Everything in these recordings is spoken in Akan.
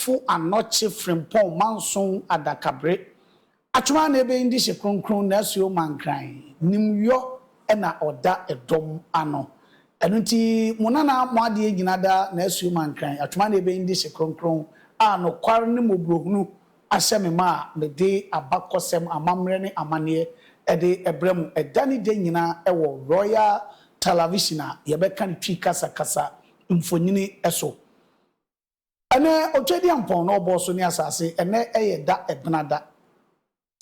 Fo anɔkye Frimpong manson adakabere atwoma na ebɛn de hye kronkron na asuo ma nkran nim yɔ na ɔda ɛdɔm ano ɛno nti mo nana mo adeɛ nyina da na asuo ma nkran atwoma na ebɛn de hye kronkron a nokwar ne mɔborɔhunu ahyɛ me ma a mede abakɔsɛm amammerɛ ne amaneɛ ɛde ɛbrɛ mo ɛda ne dɛ nyina ɛwɔ Royal Talavision a yɛbɛka ne twi kasa kasa mfonyini ɛso Ɛnɛ Otwadiampɔn na ɔbɔɔ so ne asase, ɛnɛ ɛyɛ da ɛbena da.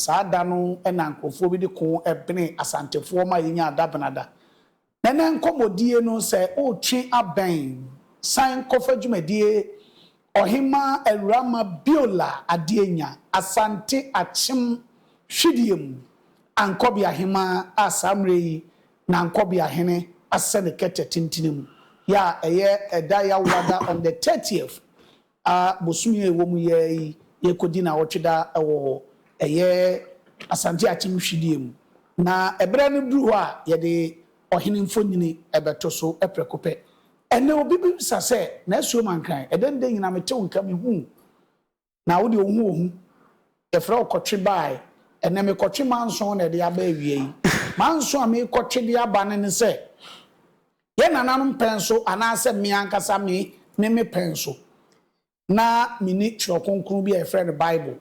Saa da no na nkurɔfoɔ bi de koo benee Asantefoɔ ma yɛnyaa da bena da. Na ɛnɛ nkɔmmɔdie no sɛ woretwe abɛn san kɔfa dwumadie Ɔhemmaa Awuramma Beulah Adenya, Asante Akyem Hwidie mu Ankɔbea Hemmaa a saa mmerɛ yi Nankobiah hene asɛ ne kɛtɛ tentene mu yɛ a ɛyɛ ɛda Yawurada on the thirtieth a bosome a ɛwɔ mu yɛ ara yi yɛrekɔdi nawɔtwe da wɔ hɔ, ɛyɛ Asante Akim hwidie mu na ɛberɛ no duru hɔ a yɛde ɔhene mfonyini bɛto so prɛko pɛ. Ɛnɛ obi bebisa sɛ, Nasuo Mankan, ɛdɛn dɛn nyina mete wo nka mehuu Na wo deɛ wo ho ohu. Yɛfrɛ wo kɔtwe baae. Ɛnnɛ mekɔtwe manson na ɛde aba awia yi. Manson a merekɔtwe de aba no ne sɛ, yɛn nananom pɛn so anaasɛ me ankasa me ne me pɛn so. Ná menni Twerɛ Kronkron bi a yɛfrɛ no Bible.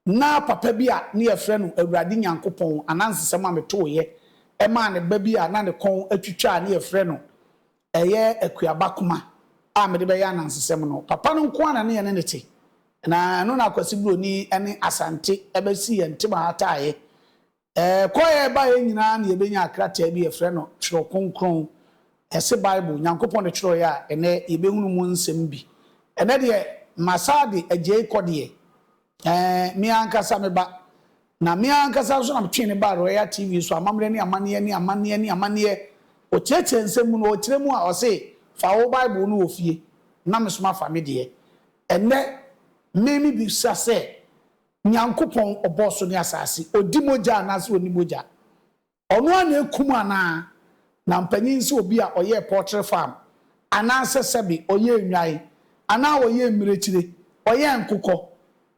Ná papa bi a ne yɛfrɛ no Awurade Nyankopɔn anansesɛm a metooeɛ maa ne ba bi a na ne kɔn atwitwa a ne yɛfrɛ no ɛyɛ akuaba koma a mede bɛyɛ anansesɛm no, papa no nko ara na ne yɛne no te, na ɛno na Akwasi Buroni ne Asante bɛsii yɛn ntam ahataaeɛ. Ɛkɔeɛ baeɛ nyinaa na yɛbɛnyaa krataa bi a yɛfrɛ no Twerɛ Kronkron, ɛse Bible, Nyankopɔn na ɛtwerɛeɛ a ɛnnɛ yɛbɛhunu mu nsɛm bi. Ɛnnɛ deɛ, masaa de agyae kɔ deɛ, Ɛɛ, me ankasa me ba. Na me ankasa nso na metwee no baa Royal TV so, Amammerɛ ne Amanneɛ ne Amanneɛ ne Amanneɛ. Ɔkyerɛkyerɛ nsɛm mu no, ɔkyerɛ mu a, ɔse, Fa wo Bible no wɔ fie, na me nso mafa me deɛ. Ɛnnɛ, me mebisa sɛ, Nyankopɔn, Ɔbɔɔ so ne asaase, Ɔdi mogya anaase Ɔnni mogya? Ɔno ara na ekum anaa? Na mpanyin sɛ obi a ɔyɛɛ pɔɔtre farm, anaasɛ sɛbe ɔyɛɛ nnwae, anaa ɔyɛɛ mmirekyire, ɔyɛɛ nkokɔ,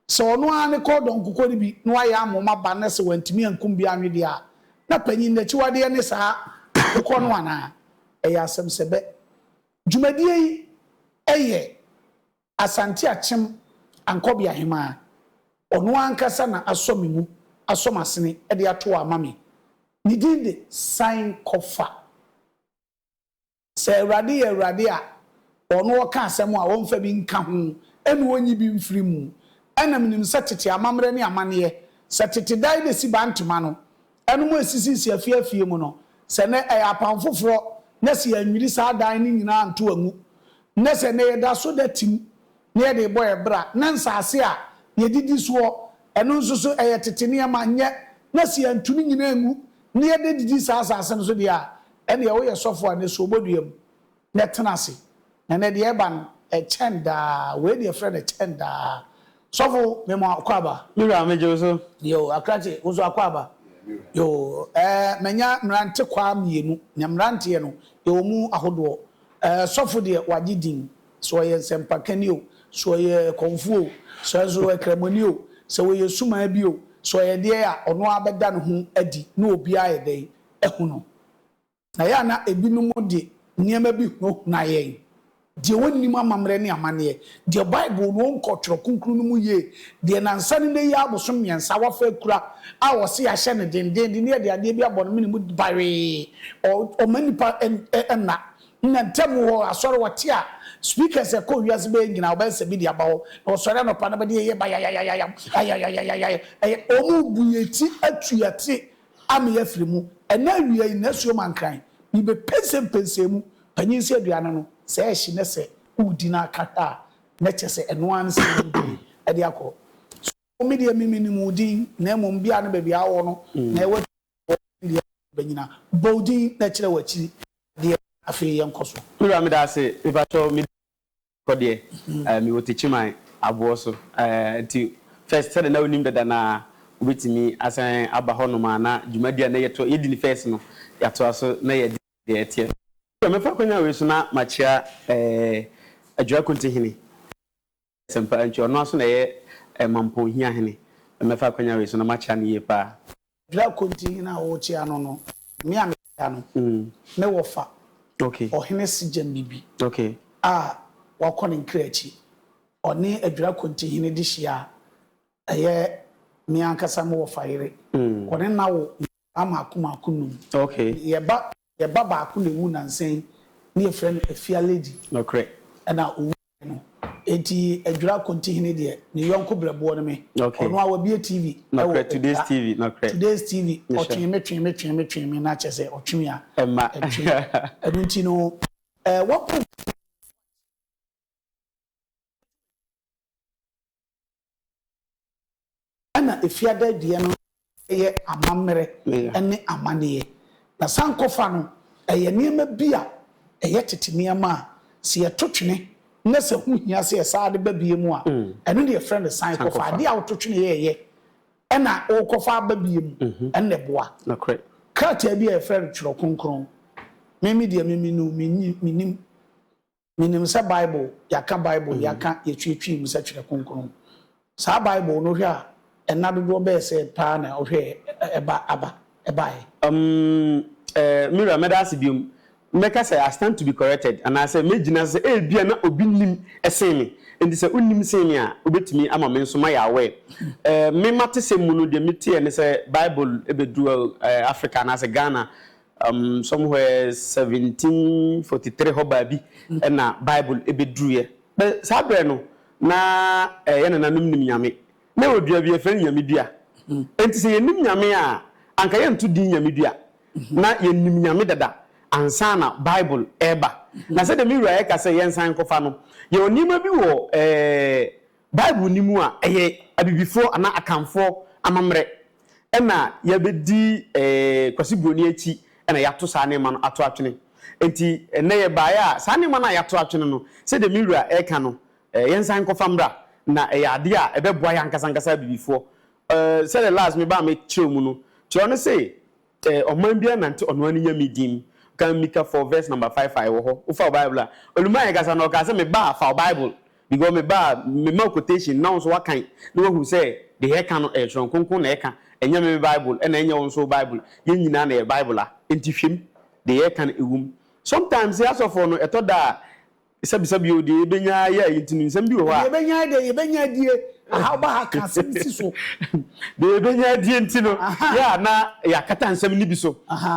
sɛ ɔno ara ne kɔɔdɔ nkokɔ no bi na wayɛ ama wɔn aba na sɛ wantumi ankum bi anwe deɛ a, na panyin no akyiwadeɛ ne saa nkokɔ no anaa? Ɛyɛ asɛm sɛ bɛ. Dwumadie yi yɛ Asante Akyem Ankɔbe Ahemaa, ɔno ankasa na asɔ me mu, asɔ m'asene de ato hɔ ama me. Ne din de San Kɔ Fa. Sɛ Awurade yɛ Awurade a ɔno ɔka asɛm a ɔmfa bi nka ho na ɔnyi bi mfiri mu. Ɛna menim sɛ tete amammerɛ ne amanneɛ, sɛ tete dae bɛsi bantema no, Ɛnom a esisisi afie afie mu no, sɛ nnɛ ɛyɛ Apam Foforɔ na sɛ yɛannwiri saa adan no nyinaa anto angu, na sɛ nnɛ yɛda so da tim na yɛde rebɔ yɛn bra, na nsase a yɛdidi soɔ, ɛno nso so ɛyɛ tete nneɛma, nyɛ, na sɛ yɛantu ne nyinaa angu na yɛda didi saa asase no so deɛ a, ɛnneɛ woyɛ sɔfoɔ a, nnesoɔ bɔ dua mu. na ɛtena ase, na ɛnnɛ deɛ ɛreba no, ɛkyɛn daa, wei deɛ frɛ no ɛkyɛn daa. Sɔfo, mema wo akwaaba. Me wura, megye wo so. Yoo, Akrakye, wo nso akwaaba? Yeah, me wura. Yoo, ɛɛ, manya mmerantekwaa mmienu, na mmeranteɛ no, yɛwɔ mu ahodoɔ. Ɛɛ, sɔfo deɛ, wagye din, sɛ ɔyɛ nsɛmpakani o, sɛ ɔyɛ kɔmfoɔ o, sɛ nso ɔyɛ Kramoni o, sɛ ɔyɛ sumaa bi o, sɛ ɔyɛ deɛn a, ɔno ara bɛda ne ho adi, na obiara ayɛ dɛn? Ahu no. Ɛyɛ a na ebinom de nneɛma bi hunahuna yɛn, deɛ wɔnnim amammerɛ ne amanneɛ, deɛ Bible no wɔnkɔɔ Twerɛ Kronkron no mu yie, deɛ nnansa ne nnɛ yi ara abosom mmiɛnsa wɔafa akura a wɔse yɛahyɛ no dendeenden na yɛde adeɛ bi abɔ no mene mu bawee. Ɔ, ɔma nnipa n, nna. Nna ntam hɔ, asɔre, wɔte a, speakers a ɛkɔ wiase bɛyɛ nyinaa, wɔbɛyɛ sɛ bi de aba hɔ, na wɔsɔre anɔpa na bɛde ɛyɛ bayayayayayam, ayayayayayam, ɛyɛ. Wɔrebu yɛn ti atu yɛn ase Amee afiri mu, ɛnɛ awia yi nasuo mankran, mebɛ pɛnsɛ mpɛnsɛɛ mu, panyin sɛ aduane no, sɛ ɛhye nɛ sɛ wodi na aka a nɛ kyɛ sɛ ɛno ara ne sɛ wobɛdi ɛde akɔ so, me deɛ me me nim wo din na mmom bia ne baabi a wɔ no na ɛwɔ adwuma a wɔ ne deɛ ɛbɛ nyina, bɔ wo din na kyerɛ wakyiri deɛ, afei yɛnkɔ so. Me wura meda ase, mepatwɔ me din. Kɔ deɛ eh, me wɔ Techiman aboɔ so eh, nti first sɛdeɛ na wonim dada no ara wobɛtumi asan aba hɔnom a na dwumadie a na yɛto yɛdi no first no yɛatoa so na yɛde deɛ ɛteɛ. Sɛ mɛfa akwanya wei so na makyea eh, Adwira Konte Hene Asɛmpa nti ɔno ara nso na ɛyɛ eh, Mampɔn Hiahene, mɛfa akwanya wei so na makyea no yie pa ara. Dra Kontihene a wɔrekyea no no, me a mekyea no, me wɔfa, Ɔhene Sejembibi a wakɔ ne nkra akyi, ɔne Adwira Kontihene de hyia a ɛyɛ me ankasa me wɔfa yere. Wɔne no awo nkwadaa mmaako mmaako nnum. Yɛn ba baako na ɛwu nnansa yi na yɛfrɛ no Afia Lady, ɛnna ɔwui. no. Enti Adwira Kontihene deɛ, ne yɔnko berɛboɔ no me. Ɔno ara wabue TV wɔ Adwira, Today's TV, ɔtwee me, twee me, twee me, twee me, na kyerɛ sɛ ɔtwe me a, ɛtwe. Ɛno nti no, ɛɛ wɔpɛ. Ɛna efiada deɛ no ɛyɛ amammerɛ ɛne amaneɛ. Na sankɔfa no ɛyɛ nneɛma bi a ɛyɛ tete nneɛma a sɛ yɛto twene na sɛ ho hia sɛ yɛsan de ba bie mu a, ɛno na yɛfrɛ no sankɔfa. Adeɛ a woto twene yɛɛyɛ ɛna wokɔfa aba bie mu ɛno na ɛboa. Krataa bi a yɛfrɛ no Twerɛ Kronkron, me me deɛ me me no mennim. Menim sɛ Bible, yɛaka Bible, yɛaka, yɛtweetwee mu sɛ Twerɛ Kronkron. Saa Bible no, wohwɛ a, nna dodoɔ bɛyɛ sɛn paa na wohwɛɛ ɛba, aba, ɛbaeɛ? Umm eh, me wura, mɛda ase biom. Mɛka sɛ I stand to be corrected, anaasɛ mɛgyina so sɛ ebia na obi nim sen me, enti sɛ wonim sen me a, wobɛtumi ama me nso mayɛ aware. Eh, me m'atesɛm mu no, deɛ meteɛ ne sɛ Bible bɛduruu eh, Africa anaasɛ Ghana Um, somewhere 1743 hɔ baa bi na Bible ɛbɛduruiɛ. Bɛ saa berɛ no, na ɛyɛ nananom nim Nyame. Na ɛwɔ dua bi, yɛfrɛ no Nyame dua. Enti sɛ yɛnim Nyame a, anka yɛnto din Nyame dua. Na yɛnim Nyame dada ansa na Bible ɛreba. Na sɛdeɛ me wura ɛka sɛ yɛnsan nkɔfa no, yɛwɔ nneɛma bi wɔ ɛɛ. Bible nni mu a, ɛyɛ Abibifoɔ anaa Akanfoɔ amammerɛ na yɛabɛdi Kwasi Buroni akyi na yɛato saa nneɛma no ato atwene. Enti ɛnnɛ yɛbaeɛ a, saa nneɛma no a yɛato atwene no, sɛdeɛ me wura reka no, yɛnsan nkɔfa mmra na ɛyɛ adeɛ a ɛbɛboa yɛn ankasa ankasa Abibifoɔ. Sɛdeɛ last mebaa mekyerɛw mu no, kyerɛw no se, Sɛ ɔman biara nante ɔno ara ne nyame din mu. Kan Mika four verse number five a, ɛwɔ hɔ. Wofa wo Bible a, Oluma rekasa no, ɔkaa sɛ, Me ba, fa wo Bible, because me ba, mema wo quotation na wo nso woakan na woahu sɛ deɛ ɛreka no, ɛyɛ Twerɛ Kronkron na ɛreka, ɛnyɛ me me Bible, ɛna ɛnyɛ wo nso wo Bible. Yɛn nyinaa na yɛyɛ Bible a, enti hwɛ mu, deɛ yɛreka no, ɛwɔ mu. Sometimes asɔfoɔ no, ɛtɔ da a, Bisabisa bio, deɛ yɛbɛnya ara yɛ a yɛntumi, nsɛm bi wɔ hɔ a. Deɛ yɛbɛnya ara deɛ yɛbɛnya adie, aha ba ha ka asɛm si so. Deɛ yɛbɛnya adie nti no, yɛ a na yɛakata nsɛm no bi so.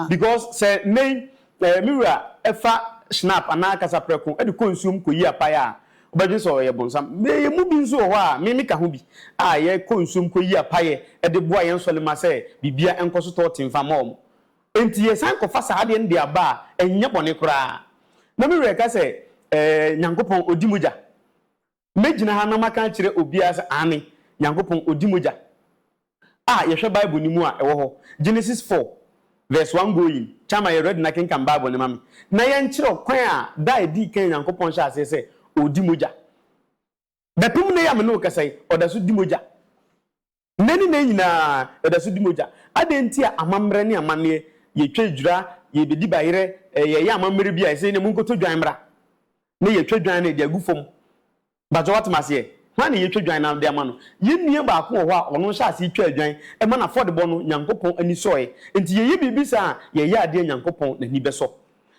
Because sɛ nnɛ yi me wura fa Schnapp anaa kasaprɛko de kɔ nsuom kɔyi apae a, wobɛdwene sɛ ɔyɛ bonsam. Yɛn mu bi nso wɔ hɔ a, me meka ho bi, a yɛkɔ nsuom kɔyi apaeɛ de boa yɛn nsɔlema sɛ biribiara nkɔ so tɔɔte mfa mma wɔn. Enti yɛsan kɔfa saa adeɛ no de aba a, ɛnyɛ bɔne koraa. Na me werɛ ka sɛ, Ɛɛ, Nyankopɔn, Ɔdi mogya? Mɛgyina ha na maka akyerɛ obiara sɛ, Aane, Nyankopɔn, Ɔdi mogya. A Yɛhwɛ Bible no mu a, ɛwɔ hɔ. Genesis four, verse one going. Chama, yɛ ready na kenkan Bible no ma me, na yɛnkyerɛ ɔkwan a da a ɛdii kan a Nyankopɔn hyɛɛ aseɛ sɛ Ɔredi mogya. Bɛpem nnɛ yi a me ne wo kasa yi, ɔda so di mogya. Nnɛ ne nnɛ nyinaa, ɛda so di mogya. Adɛn nti a amammerɛ ne amanneɛ, yɛtwa adwira, yɛrebɛdi bayerɛ, yɛreyɛ amammerɛ bi a ɛsɛ nnɛ monkɔtɔ dwan mmra na yɛatwa dwan no de agu fam? Mpakyɛ woate m'aseɛ? Hwan na yɛretwa dwan no de ama no? Yɛn nua baako wɔ hɔ a ɔno hyɛɛ aseɛ twaa dwan ma n'afɔdebɔ no, Nyankopɔn ani sɔeɛ. Enti yɛyɛ biribi saa a, yɛyɛ adeɛ a Nyankopɔn n'ani bɛsɔ.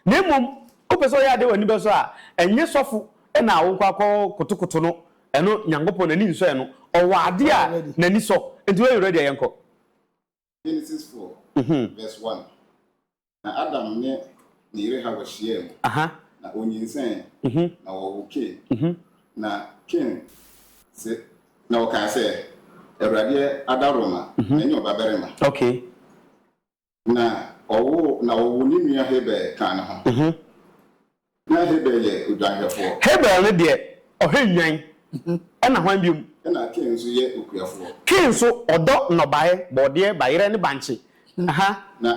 Na mmom wopɛ sɛ ɔyɛ ade a w'ani bɛsɔ a, ɛnyɛ sɔfo na wokɔ akɔkotokoto no, ɛno Nyankopɔn n'ani nsɔ ɛno. Ɔwɔ ade a n'ani sɔ, enti woayɛ ready a, yɛnkɔ. Genesis four verse one Na Adam ne ne yere Hawa hyiaa mu, na onyinsɛnee, na wɔwoo Kain. Na Kain se, na ɔkaa sɛ, Awurade adaworoma, manya ɔbabarima. Na ɔwoo na wɔwoo ne nua Habel kaa ne ho. Ná Habel yɛ odwanhwɛfoɔ. Habel no deɛ, ɔhwɛ nnwan. Ɛnna hwan bio? Ɛnna Kain nso yɛ okuafoɔ. Kain nso, ɔdɔ nnɔbaeɛ, bɔɔdeɛ, bayerɛ ne bankye. Na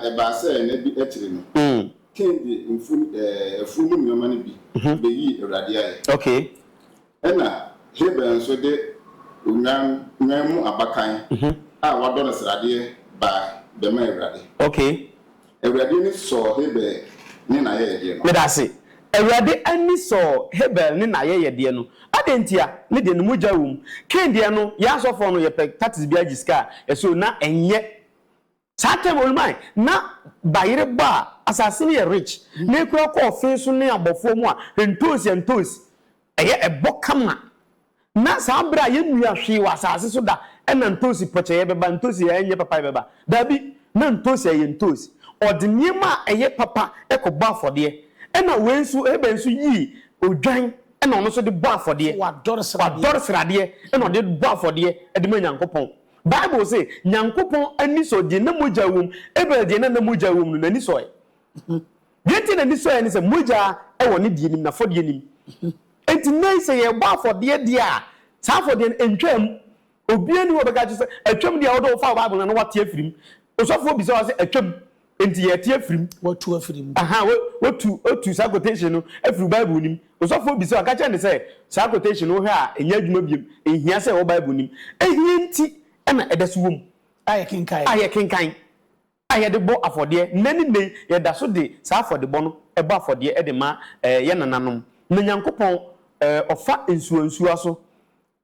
ɛbaa sɛ nna bi akyiri no, Kain de mfuo mu nneɛma no bi bɛyii Awurade ayɛ. Ɛnna Habel nso de onnwennwan mu abakan a wɔadɔ no sradeɛ bae bɛmaa Awurade. Okay. Awurade ani sɔɔ Habel ne n'ayɛyɛdeɛ no. Meda ase. Awurade ani sɔɔ Habel ne n'ayɛyɛdeɛ no. Adɛn ntia? Ne deɛ, ne mogya wom. Kain deɛ no, yɛn asɔfoɔ no, yɛpɛ tatis biara gye sika a, ɛso, na ɛnyɛ. Saa time ɔno mae na bayere bɔ a asase no yɛ rich na ekura kɔ ɔfee so ne abɔfoɔ mu a ntoosi ntoosi ɛyɛ ɛbɔ kama na saa bere a yɛ nnua hwee wɔ asase so da ɛna ntoosi pɔkyɛyɛ bɛba ntoosi yɛ ɛnyɛ papaye bɛba daabi na ntoosi ɛyɛ ntoosi ɔde nneɛma a ɛyɛ papa ɛkɔ bɔ afɔdeɛ ɛna wei nso Abel nso yii odwan ɛna ɔno nso de bɔ afɔdeɛ wadɔre sradeɛ ɛna ɔde bɔ afɔdeɛ ɛde ma Nyankopɔn. Bible se, Nyankopɔn ani sɔ deɛ na mogya wom. Abel deɛ na na mogya wom no, n'ani sɔe. Deɛ enti a n'ani sɔeɛ ne sɛ, mogya wɔ ne deɛ nim, n'afɔdeɛ nim. Enti nnɛ yi sɛ yɛrebɔ afɔdeɛ deɛ a, saa afɔdeɛ no, ɛntwaa mu. Obiara nni hɔ a ɔbɛka akyerɛ wo sɛ, atwam deɛ a, wode wo fa wo Bible no a na woate afiri mu. Osɔfoɔ bisa wo a, sɛ atwam. Enti yɛrete afiri mu. Wɔatu afiri mu. Aha, wo, wotu, wotu saa quotation no afiri wo Bible nim. Osɔfo obisa wo, ɔka kyerɛ no sɛ, saa quotation no wohwɛ a, ɛnyɛ adwuma biom. Enhia sɛ ɛwɔ Bible nim. Ehia nti na ɛda so wom. A yɛkenkan. A yɛkenkan. A yɛde bɔ afɔdeɛ. Nnɛ ne nnɛ yi, yɛda so de saa afɔdebɔ no bɔ afɔdeɛ de ma, ɛɛ, yɛn nananom. Na Nyankopɔn, ɛɛ, ɔfa nsuwansuwa so,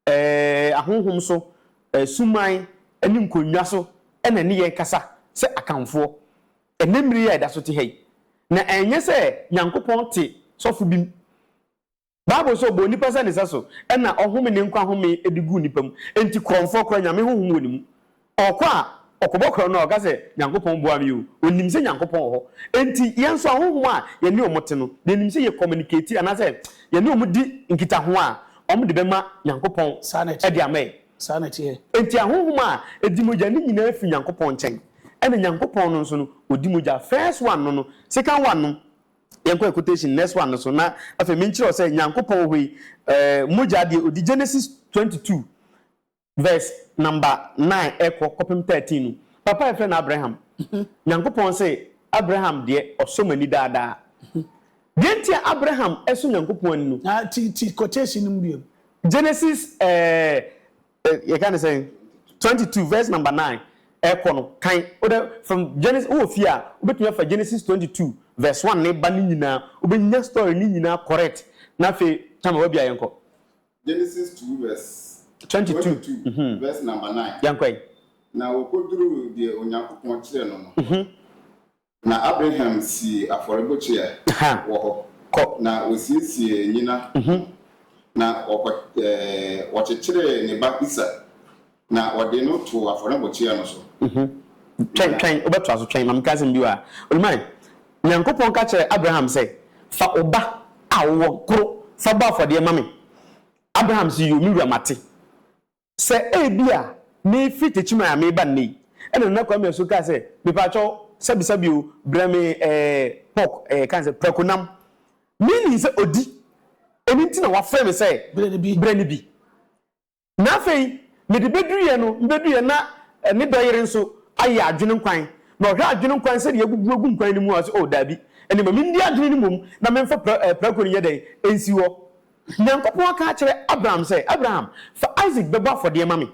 Ɛɛ, ahonhom so, asuman ne nkonnwa so na ɛne yɛn kasa sɛ Akanfoɔ ɛnnɛ mmere yi a yɛda so te ha yi. Na ɛnyɛ sɛ Nyankopɔn te sɔfo bi mu. Bible sɛ ɔbɔɔ nnipa sɛ ne sɛso na ɔhome ne nkwa home de guu nnipa mu. Enti korɔmfoɔ koraa, Nyame honhom wɔ ne mu. Ɔkɔ a, ɔkɔbɔ korɔn no a, ɔka sɛ, Nyankopɔn boa me o. Ɔnim sɛ Nyankopɔn wɔ hɔ. Enti, yɛn nso ahonhom a yɛne wɔn te no, deɛ ɛnim sɛ yɛ kɔmɛnikati anaasɛ yɛne wɔn di nkitaho a, wɔde bɛma Nyankopɔn de ama yɛn. Enti, ahonhom a ɛdi mogya no nyinaa firi Nyankopɔn nkyɛn. Ɛna Nyankopɔn no nso no, ɔdi mogya. First one no no, second one no, yɛnkɔ yɛ quotation next one no so na afei menkyerɛ wo sɛ Nyankopɔn wɔ hɔ yi, ɛɛ mogya deɛ ɔdi Genesis twenty two Verse number nine ɛkɔ kɔpem thirteen no papa a yɛfrɛ no Abraham Nyankopɔn se Abraham deɛ ɔsɔ m'ani daa daa Deɛ nti a Abraham sɔ Nyankopɔn ani no Ah ti ti quotation no mu biom. Genesis ɛɛ yɛka no sɛn twenty two verse number nine ɛkɔ no kan wodɛ from Genesis wowɔ fie a wobɛtumi afa Genesis twenty two verse one ne ba ne nyinaa wobɛnya story ne nyinaa correct na afei Tama wabia yɛnkɔ. Genesis two verse twenty two verse number nine. Yɛn kɔ yi. Na wɔkɔduruu deɛ Onyankopɔn kyerɛɛ no no hɔ no, na Abraham sii afɔrebukyia wɔ hɔ, na ɔsiesiee nnyina ho, na ɔkyekyeree ne ba Isak Na wɔde no too afɔrebukyia no so. Twɛn, twɛn, wobɛtoa so, twɛn, ma menka asɛm bi wɔ ha. Onuman, Nyankopɔn ka kyerɛɛ Abraham sɛ, Fa wo ba a wowɔ koro fa bɔ afɔdeɛ ma me. Abraham se, Yio, me wura, mate. Sɛ ebia meefiri Techiman a mereba nnɛ yi, ɛna Nana Kwame Asu kaa sɛ, Mepakyɛw, sɛbesɛbe o, brɛ me ɛɛ pork, ɛɛ yɛka no sɛ prakonam. Meaning sɛ odi, ɛno nti na wafrɛ me sɛ, Brɛ no bi. Na afei, mede bɛduruiɛ no, mebɛduruiɛ na ne dɔ yere nso ayɛ adwene nkwan, na ɔhwɛ adwene nkwan sɛdeɛ abubu agu nkwan no mu a, ɔse, O, daabi, ɛnneɛ ma menni adwene no mmom na memfa pra, ɛɛ, prako no nyɛ dɛn? Ɛnsi hɔ. Nyankopɔn aka akyerɛ Abraham sɛ, Abraham, fa Isak bɛbɔ afɔdeɛ ma me.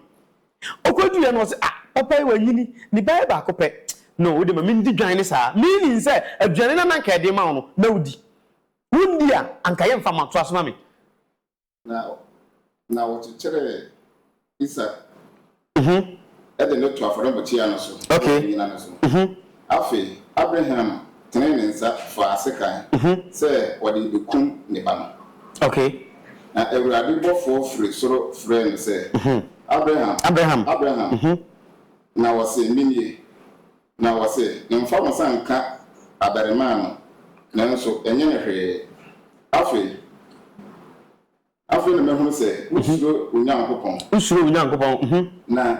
Ɔkɔduruiɛ no, ɔse, Ah, papa yi, wanyini, ne ba yɛ baako pɛ. No, wode ma mendi dwan ne saa. Meaning sɛ, aduane no a na anka yɛde rema wo no, na wodi. Wondi a, anka yɛmfa mma, toa so ma me. Na na wɔkyekyeree Isak de no too afɔrebukyia no so wɔ ne nnyina no so. Afei Abraham tenee ne nsa faa sekan sɛ ɔde rebekum ne ba no. Na Awurade bɔfoɔ firi soro frɛɛ no sɛ, Abraham! Abraham! Na ɔsee, Menie. Na wɔse no mfa wo nsa nka abarimaa no, nanso ɛnyɛ no hwee. Afei, afei na mahunu sɛ wosuro Onyankopɔn. Wosuro Onyankopɔn. Na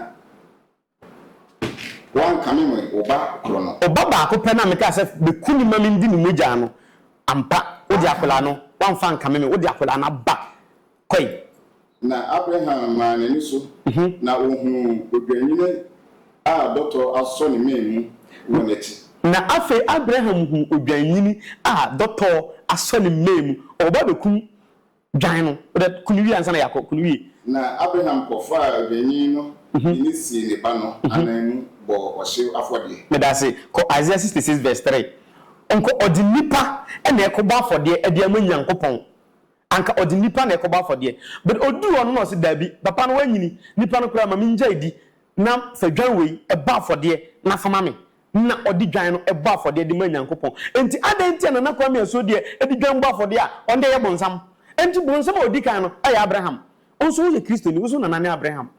woankame me wo ba koro no. Ɔba baako pɛ no a mekaa sɛ bɛku no ma mendi ne mogya no, ampa, wode akwadaa no, woamfa ankame me, wode akwadaa no aba kɔe. Na Abraham maa n'ani so, na ohuu odwennini a dɔtɔ asɔ ne mɛn mu wɔ n'akyi. Na afei Abraham huu odwennini a dɔtɔ asɔ ne mɛn mu, ɔwɔ ba bekum dwan no. Wodɛ, ku no wie ansa na yɛakɔ, ku no wie. Na Abraham kɔfaa odwennini no de no sii ne ba no anan mu bɔɔ ɔhyew afɔdeɛ. Meda ase. Kɔ Isaiah sixty six vs three. Ɔnkɔ, ɔde nnipa na ɛrekɔbɔ afɔdeɛ de ama Nyankopɔn. Anka ɔde nnipa na ɛkɔbɔ afɔdeɛ. But ɔduu hɔ no na ɔse, Daabi, papa no wanyini, nnipa no koraa ma mengyae di, na fa dwan wei bɔ afɔdeɛ na fa ma me. Na ɔde dwan no bɔ afɔdeɛ de ma Nyankopɔn. Enti adɛn nti a Nana Kwame Asuo deɛ de dwan bɔ afɔdeɛ a, ɔno deɛ ɛyɛ bonsam? Enti bonsam a ɔdi kan no yɛ Abraham. Wo nso woyɛ Kristoni, wo nso wo nana ne Abraham.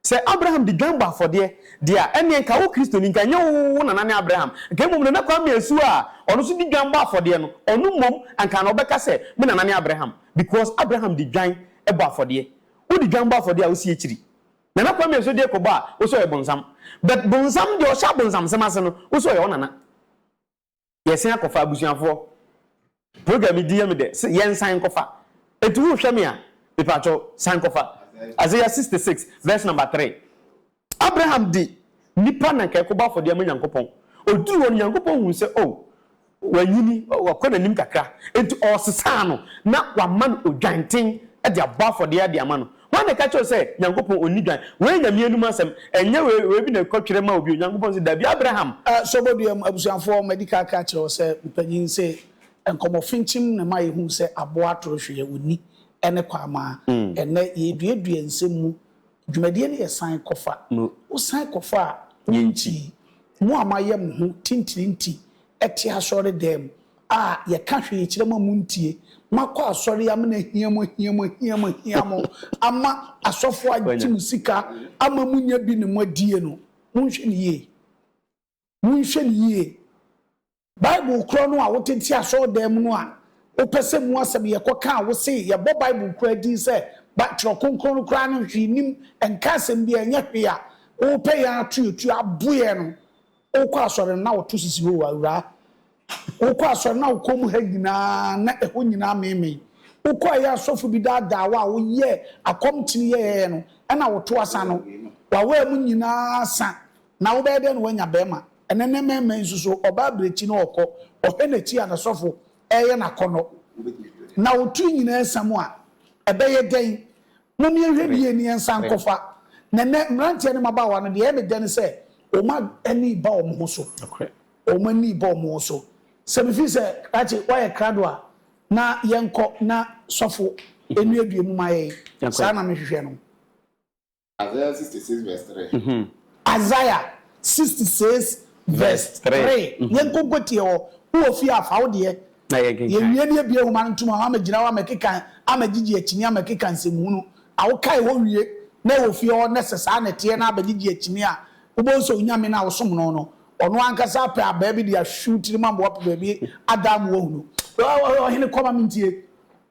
Sɛ Abraham de dwan bɔ afɔdeɛ deɛ a, ɛnneɛ nka wo Kristoni, nka ɛnyɛ wo wo nana ne Abraham, nka mmom Nana Kwame Asuo a ɔno nso de dwan bɔ afɔdeɛ no, ɔno mmom anka na ɔbɛka sɛ me nana ne Abraham, because Abraham de dwan bɔ afɔdeɛ. Wode dwan bɔ afɔdeɛ a, wosi akyiri. Nana Kwame Asuo deɛ kɔbɔ a, wo sɛ ɔyɛ bonsam. But bonsam deɛ ɔhyɛ abonsamsɛm ase no, wo sɛ ɔyɛ wo nana. yɛsan akɔfa abusuafoɔ program yi di yɛ me dɛ sɛ yɛnsan nkɔfa enti wohwɛ me a mepatwɔ san kɔfa Isaiah 66 verse number 3 Abraham de nipa na nka ɛkɔbɔ afɔdeɛ ama Nyankopɔn ɔduru hɔ no Nyankopɔn huu sɛ oh wanyini wakɔ n'anim kakra enti ɔsesaa no na wama no odwanten de abɔ afɔdeɛ de ama no Hwan na ɛka kyerɛ wo sɛ Nyankopɔn ɔnni dwan? Wei yɛ Nyame anom asɛm, ɛnyɛ wei wei bi na ɛkɔ twerɛ ma wo bio, Nyankopɔn se dabi, Abraham. Sobɔduam abusuafoɔ, madi kan aka akyerɛ wo sɛ me panyin se nkɔmmɔ finkyim na ɛma yɛhunu sɛ aboa atoro hwee ɔnni ne kwaamaa. Ɛnnɛ yɛreduadua nsɛm mu, dwumadie no yɛ san kɔfa. Wo san kɔfa a, wo nti, mo a moayɛ mo ho tintirinti te asɔre dan mu, a yɛka hwee kyerɛ mo a montie, moakɔ asɔre yi amena ahia mo, ahia mo, ahia mo, ahia mo, ama asɔfoɔ agye mo sika ama monya bi ne moadie no, monhwɛ no yie, monhwɛ no yie. Bible korɔ no a wote te asɔredan mu no a wopɛ sɛ mu asɛm yɛkɔka a wose yɛbɔ Bible koraa din sɛ Bi Twerɛ Kronkron no koraa no hwee nnim, ɛnka asɛm biara, ɛnyɛ hwee a wopɛ yɛn atoatoa aboɛ no, Wokɔ asɔre no na woto sisi hoo awuraa. Wokɔ asɔre na wo kɔn mu ha nyinaa na ɛhɔ nyinaa meemee. Wokɔ ɛyɛ asɔfo bi daadaa wo a woyɛ akɔm kyini yɛyɛyɛ no ɛna woto asa no. W'awaa mu nyinaa asa na wobɛyɛ dɛn na woanya bɛɛma. Ɛnɛ nnɛ mɛɛma yi nso so ɔbaa abirɛkyi na ɔkɔ ɔhɛ nakyi a nasɔfo ɛɛyɛ nakɔnɔ. Na wo tiri nyinaa sa mu a ɛbɛyɛ dɛn Mom yɛnhwɛ yie ne yɛnsan nkɔfa. Na nnɛ mmeranteɛ ne mmabaawa no deɛ ɛyɛ me dɛ ne sɛ wɔn ani reba wɔn ho so. Wɔn ani reba wɔn ho so. Sɛ mefiri sɛ Rache woayɛ krado a na yɛnkɔ na sɔfo nnuadua mu ma yɛn. Saa na mehwehwɛ no. Isaiah sixty six verse three. Isaiah sixty six verse three. Yɛnkɔ nkɔtie hɔ. Wowɔ fie a fa wo deɛ Na yɛnkenkan. Yɛwie no yɛbue nwoma no ntom a wɔamɛgyina hɔ amɛkeka amɛgyegye akyini amɛkeka nsɛmhunu a wokae hɔ wie na ɛwɔ fie hɔ na sɛ saa na ɛteɛ na abɛgyegye akyini a wobɛhu sɛ Onyame no a wosom no no ɔno ankasa apɛ abaa bi de ahwehwe wo tirim ama woapɛ baabi adaa mu woahunu Ɔhene kɔ ma mentie.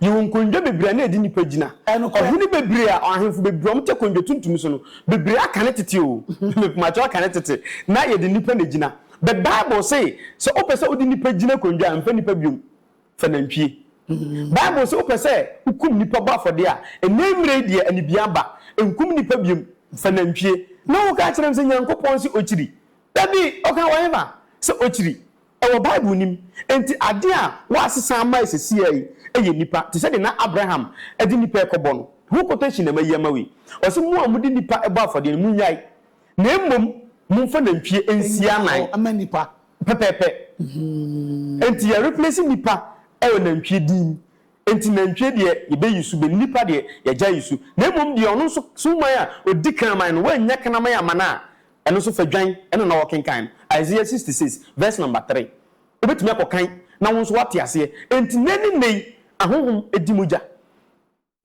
Yɛwɔ nkondwa bebree a na ɛde nnipa gyina. Ɔhene bebree a ahemfo bebree a wɔte akondwa tuntum so no, bebree aka ne tete o, mepakyɛw aka ne tete, na yɛde nnipa na egyina. But Bible se, sɛ wopɛ sɛ wode nnipa gyina akondwa a, mfa nnipa biom, fa nantwie. Bible se wopɛ sɛ wokum nnipa bɔ afɔdeɛ a, ɛnnɛ mmerɛ yi deɛ anibia aba, nkum nnipa biom, fa nantwie. Na woka kyerɛ no sɛ Nyankopɔn se okyiri. Dabi, ɔka wɔ hefa? Sɛ okyiri. Ɛwɔ Bible no mu. Enti ade a wɔasesa ama seesei yi yɛ nnipa, te sɛ deɛ na Abraham de nnipa rekɔbɔ no. Ho quotation na mayi ama wo yi. Ɔse, Mo a mode nnipa bɔ afɔdeɛ no, monnyae, na mmom momfa nantwie nsia nnan mma nnipa. Pɛpɛɛpɛ. Enti yɛ replace nnipa wɔ nantwie din mu. Enti nantwie deɛ yɛbɛyi so bɛn, nnipa deɛ yɛagyae yi so. Na mmom deɛ ɔno nso, Suman a ɔdi kraman no, wannya kraman ammana a, Ɛno nso, fa dwan na na wɔkenkan no. Isaiah sixty six verse number three. Wobɛtumi akɔkan na wo nso woate aseɛ. Enti nnɛ ne nnɛ yi, ahonhom di mogya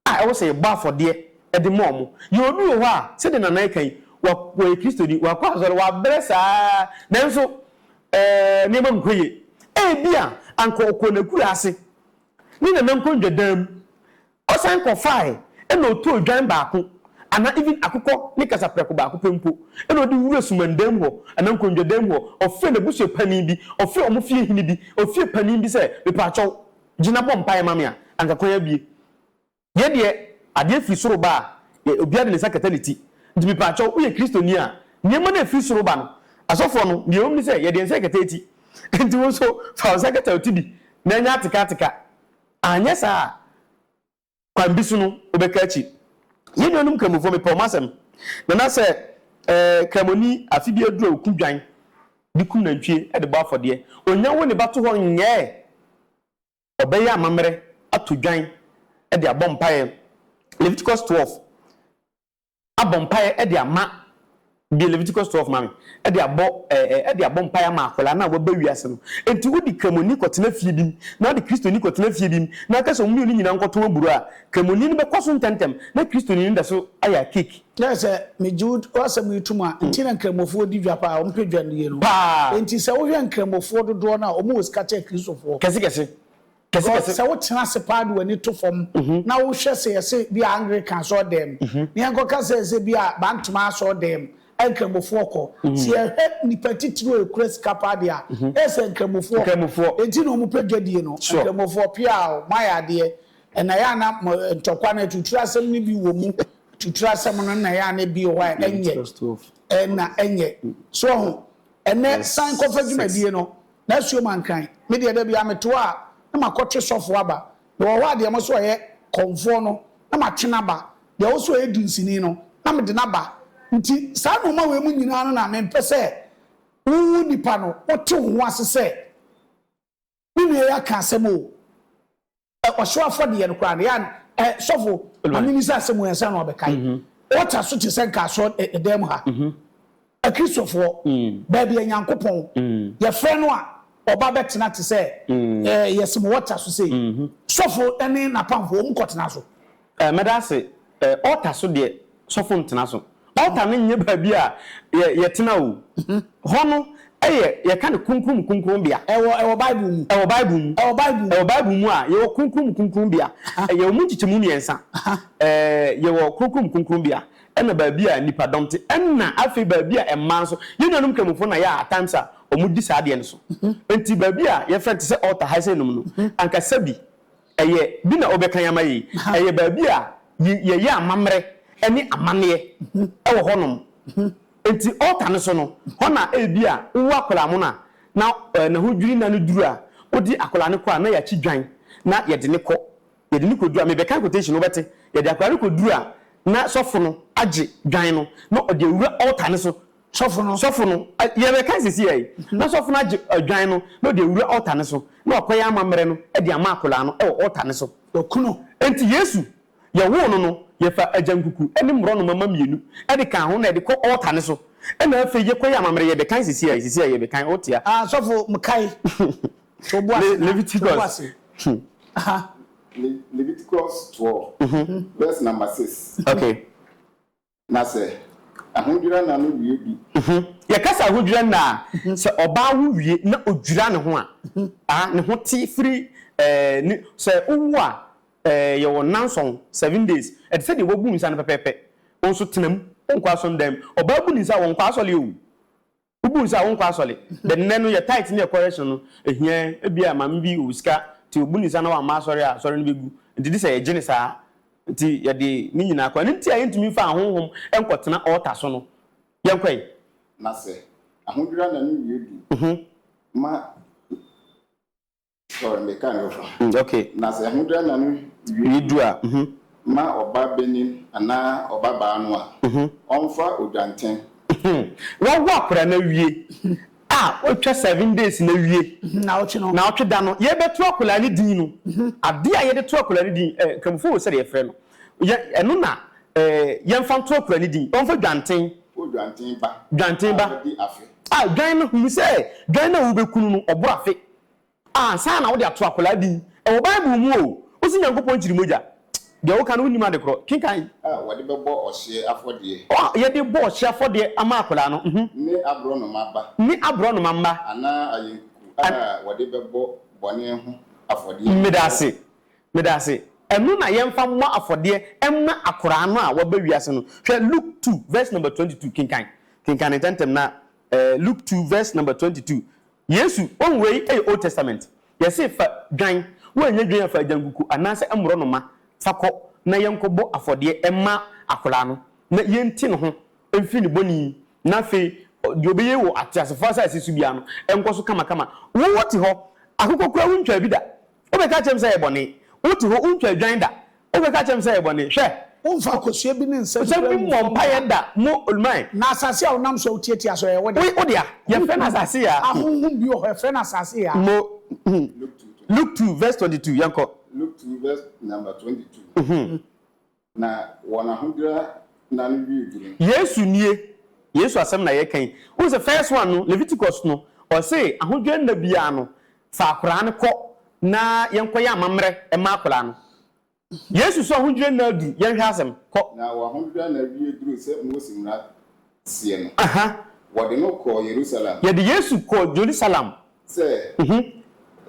a ɛwɔ sɛ yɛbɔ afɔdeɛ de ma wɔn. Yɛwɔ obi wɔ hɔ a, sɛdeɛ Nana reka yi, wa, ɔyɛ Kristoni, wakɔ asɔre, wabrɛ saa ara, nanso ɛɛ, nneɛma nkɔ yie. Ebia anka ɔkɔɔ n'akurase ne nana nkonnwa dan mu, Ɔsan kɔfae na otoo odwan baako, anaa even akokɔ ne kasaprɛko baako pɛ mpo, na ɔde wuraa sumandan mu hɔ, anaa nkongyadan mu hɔ. Ɔfrɛɛ n'abusua panin bi, ɔfrɛɛ wɔn fie hene bi, ofie panin bi sɛ, Mepakyɛw, gyina bɔ mpae ma me a, anka kwan abue. Yɛn deɛ, adeɛ firi soro ba a, yɛ, obiara de ne nsa kata ne ti. Nti mepakyɛw, woyɛ Kristoni a, nneɛma no a efiri soro ba no, asɔfoɔ no, deɛ ɛwom ne sɛ, yɛde yɛn nsa rekata eti. Enti wo nso, fa wo nsa kata wo ti bi, na ɛnyɛ atekateka. Anyɛ saa a, kwan bi so no, wobɛka akyi. Yɛn nuanom Kramofo, mepɛ wɔn asɛm. Nana, sɛ Kramoni afe bi aduru a oku dwan de kum nantwie de bɔ afɔdeɛ, onnya wo ne ba to hɔ nyɛɛ? Ɔbɛyɛ amammerɛ ato dwan de abɔ mpaeɛ. Leviticus twelve. abɔ mpaeɛ de ama deɛ Leviticus 12 ma me de abɔ ɛɛ de abɔ mpaeɛ ama akwadaa no a waba wiase no enti wodi kramoni kɔtena fie bi mu na ɔde kristoni kɔtena fie bi mu na aka sɛ wɔn mmienu nyinaa nkɔtɔn aburo a kramoni no bɛkɔ so ntɛmntɛm na kristoni no da so ayɛ cake. Kyerɛ sɛ megye wo asɛm yi tom a nti na nkramofoɔ di dwa paa wɔn pɛ dwa no yie no paa enti sɛ wohwɛ nkramofoɔ dodoɔ no a wɔn wɔ sika kyɛn kristofoɔ. Kɛse kɛse Because sɛ wotena ase paa de w'ani to fam na wohwɛ sɛ yɛse bi a Anglican asɔɔdɛm na yɛnkɔka sɛ sɛ bi a Bantama asɔɔdɛm a Nkramofoɔ kɔ. Sɛ yɛhwɛ nnipa titiriw a yɛkura sika paa deɛ a, na yɛsɛ Nkramofoɔ. Enti na wɔpɛ dwadie no. Nkramofoɔ, piaa o, moayɛ adeɛ. Ɛna ɛyɛ a na mo ntɔkwa no atuture asɛm no bi wɔ mu. Atuture asɛm no na ɛyɛ a na ebi wɔ hɔ a ɛnyɛ. Ɛna ɛnyɛ. So wahu? Ɛnnɛ san kɔfa dwumadie no. N'asuo ma nkran. Me deɛ da biara meto hɔ a na makɔtwe sɔfoɔ aba. Mewɔ hɔ a deɛ mo so ɔyɛ kɔmfoɔ no na matwe no aba. Deɛ ɔso ɔyɛ dunsini no na mede no aba. Nti saa nnoɔma wei mu nyinaa no na mempɛ sɛ wo nipa no wote wo ho ase sɛ me nua yi aka asɛm o. Ɔhyew afɔdeɛ no koraa no, yɛ a sɔfo ma no mmisa asɛm ansa na wabɛkae. Mm-hmm. Ɔta so te sɛ nka asɔ ɛdan mu ha. Mm-hmm. Akristofoɔ, mm. baabi a Nyankopɔn, mm. yɛfrɛ no a ɔba bɛtena te sɛ mm. yɛsim wɔta so sei. Mm-hmm. Sɔfo ne n'apamfo wɔn kɔtena so. Eh mɛda ase eh altar so deɛ sɔfo ntena so altar no nyɛ baabi a yɛ yɛ tena o hɔ no yɛ yɛ ka no kronkron mu kronkron bea. Ɛwɔ ɛwɔ bible mu. Ɛwɔ bible mu. Ɛwɔ bible mu. Ɛwɔ bible mu a yɛwɔ kronkron mu kronkron bea yɛwɔ mu nkyekyɛmu mmiɛnsa eh yɛwɔ kronkron mu kronkron bea ɛna baabi a nnipa dɔm te ɛna afei baabi a mmaa nso yɛn nuanom kramofo na yɛ a times a wɔn di saa adeɛ no so nti baabi a yɛfrɛ no te sɛ altar ha sɛ nom no anka sɛbi Ɛyɛ bi na wobɛkan ama yɛn yi? Ɛyɛ baabi a yɛyɛ amammerɛ ne amanneɛ wɔ hɔnom. Enti altar no so no, hɔ na ebia wowo akwadaa mono a, na ne ho dwiri na no duru a, wode akwadaa no kɔ a, na yɛakyi dwan na yɛde no kɔ. Yɛde no kɔduru a, mebɛkan quotation, wobɛte? Yɛde akwadaa no kɔduru a, na sɔfo no agye dwan no, na ɔde awura altar no so Sɔfo no. Sɔfo no, yɛreka sisi yɛ yi, na sɔfo no agye adwan no na ɔde awura ɔta no so na wakɔyɛ amammerɛ no de ama akwadaa no wɔ ɔta no so. Wɔkunu. Enti Yesu, yɛwoo no no, yɛfa agyankuku ne mmorɔnoma mma mmienu de kaa ho na yɛde kɔ ɔta no so na afei yɛkɔyɛ amammerɛ. Yɛbɛkan sisi yɛ yi, sisi yɛ yi yɛbɛkan, wote a. Ah, sɔfo, mekae. To wo bo ase na. Leviticus. Aha. Leviticus 12, verse number 6. Okay. Na sɛ ahodwira nna no wie bi. Yɛka sɛ ahodwira nna a, sɛ ɔbaa wo wie na odwira ne ho a, ah, ne ho te firi eh, sɛ wowo a eh, yɛwɔ nnanson, seven days, ɛte sɛ deɛ wabu nsa no pɛpɛɛpɛ. Wo nso tena mu, wonkɔ asɔndan mu. Ɔbaa bu ne nsa a, ɔnkɔ asɔre o. Wobuu no sɛ a wonkɔ asɔre. Then nnɛ no yɛ tithe ne correction no ehia yɛn. Ebia maame bi wɔ sika nti obu ne nsa na wamma asɔre a asɔre no begu. Nti gye sɛ yɛgye no saa. Nti yɛde ne nyinaa kɔ. Ɛno nti a yɛntumi mfa ahonhom nkɔtena altar so no. Yɛnkɔ ɛ. Na sɛ ahodwira nna no wie du ma. Sorry, me ka no foforo. Mm, okay. Na sɛ ɛho dwa na no wie du a, mhm. Ma ɔba benin anaa ɔba baa no a, mhm. Ɔmfa odwantɛn. Wawo akora na wie a, watwa seven days na wie. Na ɔtwe no. Na ɔtwe da no, yɛbɛto akora ne din no. Mhm. Ade a yɛde to akora ne din, eh, kramofo wɔ sɛdeɛ yɛfrɛ no. Yɛ, ɛno na, eh, yɛmfa nto akora ne din. Ɔmfa dwanten. O dwanten ba. Dwanten ba. A, di afe. A, dwan no, hunu sɛ, dwan no a wobɛkunu no, ɔboro afe. Ansa na wode ato akwadaa din. Ɛwɔ Bible mu o. Wose Nyankopɔn kyiri mogya. Deɛ woka no wonnim adekorɔ. Kenkan. A wɔde bɛbɔ ɔhyeɛ afɔdeɛ. A yɛde bɔ ɔhyeɛ afɔdeɛ ama akwadaa no. Mhm. Ne aborɔnoma ba. Ne aborɔnoma mma. Anaa ayɛnkuku a wɔde bɛbɔ bɔne ho afɔdeɛ no. Meda ase. Meda ase. Ɛno na yɛmfa mmɔ afɔdeɛ mma akwadaa no a waba wiase no. Hwɛ Luke two verse number twenty two. Kenkan. Kenkan no ntɛmntɛm na eh, Luke two verse number twenty two. Yesu, Wɔn wei yɛ Old Testament. Yɛse fa dwan, woanyɛ dwan a fa agyankuku anaasɛ mmorɔnoma fa kɔ na yɛnkɔbɔ afɔdeɛ mma akwadaa no na yɛnte ne ho mfiri ne bɔne yi na afei deɛ ɔbɛyɛ wɔ ateasefoɔ asase so biara no nkɔ so kamakama. Wote hɔ, akokɔ koraa wontwaa bi da. Wobɛka akyerɛ me sɛ ɛyɛ bɔne? Wote hɔ, wontwa adwan da. Wobɛka akyerɛ me sɛ ɛyɛ bɔne? Hwɛ! Womfa akosua bi ne nsɛm bi mmɔ mpaeɛ da. Nsɛm bi mmɔ mpaeɛ da, mo Olmai. Na asase a wonam so a wotiatia so, ɛyɛ wo dea? Wo dea. Yɛfrɛ no asase yaa. Ahonhom bi wɔ hɔ, yɛfrɛ no asase yaa. Mo Luke two verse twenty two, yɛnkɔ. Luke two verse number twenty two. Na wɔn ahodwira nna no wiee duru. Yesu nie. Yesu asɛm na yɛka yi. Wohu sɛ first one no, Leviticus no, ɔse ahodwira nna biara no, fa akwadaa no kɔ na yɛnkɔyɛ amammerɛ mma akwadaa no. Yesu so ahodwira nna aduru, yɛnhwɛ asɛm. Kɔ. Na wɔn ahodwira nna wiee duru sɛ Mose mmara sie no, Aha. wɔde no kɔɔ Yerusalem. Yɛde Yesu kɔɔ Jerusalem. Sɛ,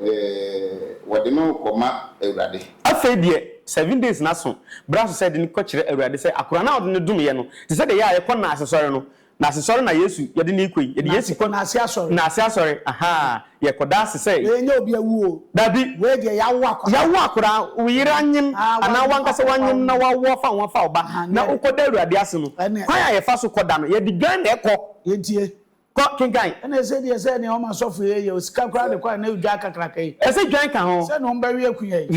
eh, wɔde no rekɔma Awurade. Afei deɛ, seven days no aso, berɛ aso sɛ yɛde no kɔkyerɛ Awurade sɛ akoraa no a wɔde no domeeɛ no, te sɛ deɛ yɛ a yɛkɔ Nnaase sɔre no, Nnaase sɔre na Yesu, yɛde no rekɔ yi, yɛde Yesu kɔ. Nnaase asɔre. Nnaase asɔre, aha. Yɛkɔda ase sɛ. Wei nyɛ obi awu o. Dabi. Wei deɛ yɛawo akwadaa. Yɛawo akwadaa, wo yere anyem anaa w'ankasa woanyem na woawo afa ho afa wo ba, na wokɔda Awurade ase no, kwan a yɛfa so kɔda no, yɛde dwan na ɛkɔ. Yɛntie. Kɔ, kenkan. Ɛnna ɛsɛ deɛ sɛ nea wɔn asɔfo yi yɛ o, sika koraa de kɔe, na dwan kakraka yi. Ɛsɛ dwan ka ho. Sɛnea wɔbɛwe akuya yi.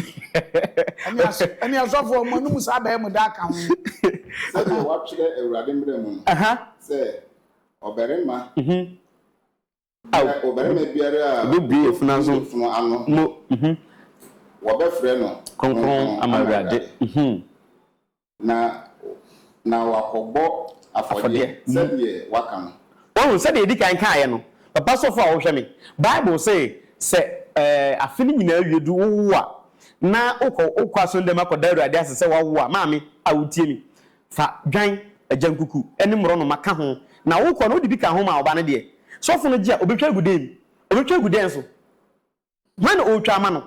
Ɛnne aso, ɛnne asɔfo a wɔanom saa bɛyɛ mo daa ka ho. Sɛdeɛ wɔatwerɛ Awurade mmara mu no, sɛ ɔbarima Ao, Na ɔbarima biara a obebue afunu obu ano afunu ano no, no, mhm, wɔbɛfrɛ no kronkron kronkron ama ama Awurade, Awurade, mhm, na na wakɔbɔ afɔdeɛ afɔdeɛ, mhm. sɛdeɛ waka no. Wahu, sɛdeɛ yɛdi kan kaeɛ no, papa sɔfo a wohwɛ me, Bible se sɛ ɛɛ afe no nyinaa awie du wowo a, na wokɔ wokɔ asɔnndan mu akɔda Awurade ase sɛ woawo a, maame a wotie me, Fa dwan, agyankuku ne mmorɔnoma ka ho, na wokɔ no, wode bi ka ho ma ɔba no deɛ, sɔfo no gye a, ɔbɛtwa agu dɛn mu? Ɔbɛtwa agu dɛn so? Hwan na ɔretwa ama no?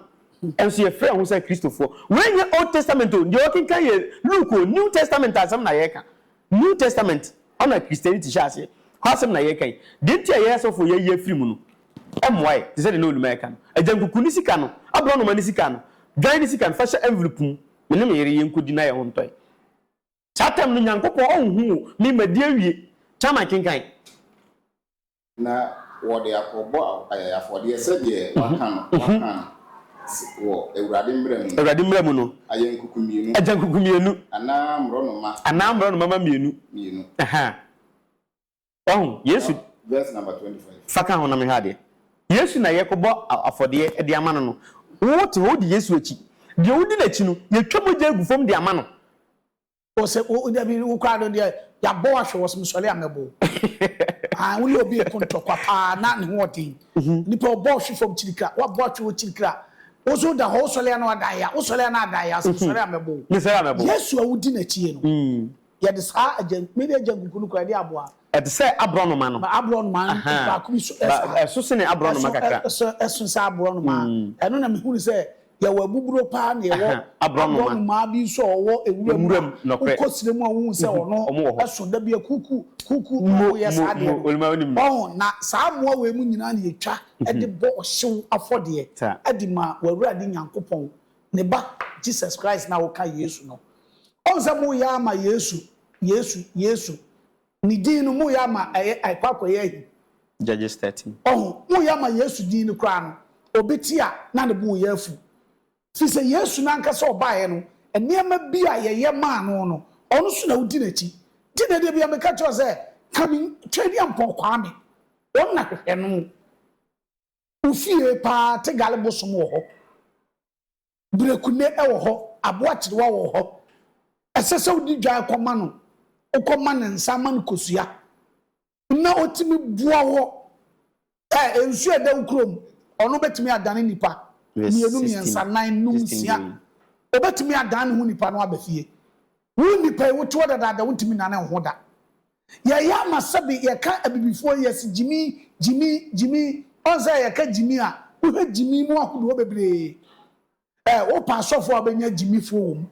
Nso yɛfrɛ ho sɛ Kristofoɔ. Wei nyɛ Old Testament o, deɛ wɔkenkan yɛ Luke o, New Testament asɛm na yɛreka. New Testament, hɔ na Christianity hyɛɛ aseɛ, hɔ asɛm na yɛreka yi. Deɛ nti a yɛn asɔfoɔ yɛayi afiri mu no, ɛmmoa yɛn, te sɛ deɛ na Onima reka no. Agyankuku ne sika no, aborɔnoma ne sika no, dwan ne sika no, fa hyɛ envelope mu Me ne me yere, yenkodi na yɛn ho ntɔ yɛn. Saa tam no, Nyankopɔn onhu wo. Me, madi awie. Chairman, kenkan. Na wɔde akɔbɔ afɔdeɛ sɛdeɛ wɔaka no, wɔaka no, wɔ Awurade mmara mu no. Awurade mmara mu no. Agyankuku mmienu. Agyankuku mmienu. Anaa mmorɔnoma. Anaa mmorɔnoma mma mmienu. Mmienu. Ɛhã. Wahu? Yesu. Fa ka ho na menhwɛ adeɛ. Yesu na yɛrekɔbɔ afɔdeɛ de ama no no. Wote hɔ, wodi Yesu akyi. Deɛ wodi n'akyi no, yɛtwa mogya gu fam de ama no. O sɛ, o, dabi, wo koraa no deɛ, yɛabɔ wo ahwɛ wɔ se mesɔre a mɛbɔ wo. Ae, wo ne obi reko ntɔkwa paa na ne ho wɔ den. Nipa ɔbɔ wo hwe fam kyirikira, woabɔ atwe hɔ kyirikira. Wo nso woda hɔ, wosɔre a na wada ayea, wosɔre a na ada ayea, se mesɔre a mɛbɔ wo. Mesɔre a mɛbɔ wo. Yesu a wodi n'akyie no. Yɛde saa agyan me de agyan kuku no kura de aboa. Ɛte sɛ aborɔnoma no. Ba aborɔnoma no baako bi so ɛ saa. Ɛso sene aborɔnoma kakra. Ɛso ɛ ɛso sɛ aborɔnoma. Ɛno na mehunu sɛ yɛwɔ abuburo paa na yɛwɔ aborɔnoma bi nso a ɔwɔ ewura mu a wokɔ srɛ mu a wohu sɛ ɔno ɛso da bi a kuku kuku na wɔyɛ saa adeɛ no. Ɔho na saa mmoa wei mu nyinaa na yɛtwa de bɔ ɔhyew afɔdeɛ de ma w'Awurade Nyankopɔn Ne ba, Jesus Christ no a woka Yesu no. Ɔhu sɛ moreyɛ ama Yesu, Yesu, Yesu. Ne din no, moreyɛ ama ɛyɛ, ɛkɔ akɔyɛ ahi. Judges thirteen. Ɔho, moreyɛ ama Yesu din no koraa no, obi te a, na ne bo reyɛ afu. Firi sɛ Yesu no ankasa a ɔbaeɛ no, nneɛma bi a yɛyɛ maa no no, ɔno nso na wodi n'akyi. Nti na da biara meka kyerɛ wo sɛ, Ka me, Twɛdiampɔn Kwame. Wɔn na hwehwɛ no. Ofie paa Tegal bosom wɔ hɔ, Berekune wɔ hɔ, Aboakyerewa wɔ hɔ. Ɛsɛ sɛ wode dwan kɔma no, wokɔma no nsa ma no kosua na ɔtumi boa wɔ ɛ nsuo a ɛda wo kurom, ɔno bɛtumi adane nipa mmienu, mmiɛnsa, nan, num, nsia, ɔbɛtumi adan ne ho nipa no aba fie Wo nnipa yi, wote hɔ dadaada, wontumi nnane nho da. Yɛyɛ ama sɛbe yɛka Abibifoɔ yi, yɛse gyimi, gyimi, gyimi. Ɔn sɛ yɛka gyimi a, wohwɛ gyimi mu ahodoɔ bebree ɛ. Wopɛ asɔfoɔ a, wobɛnya gyimifoɔ wɔ mu.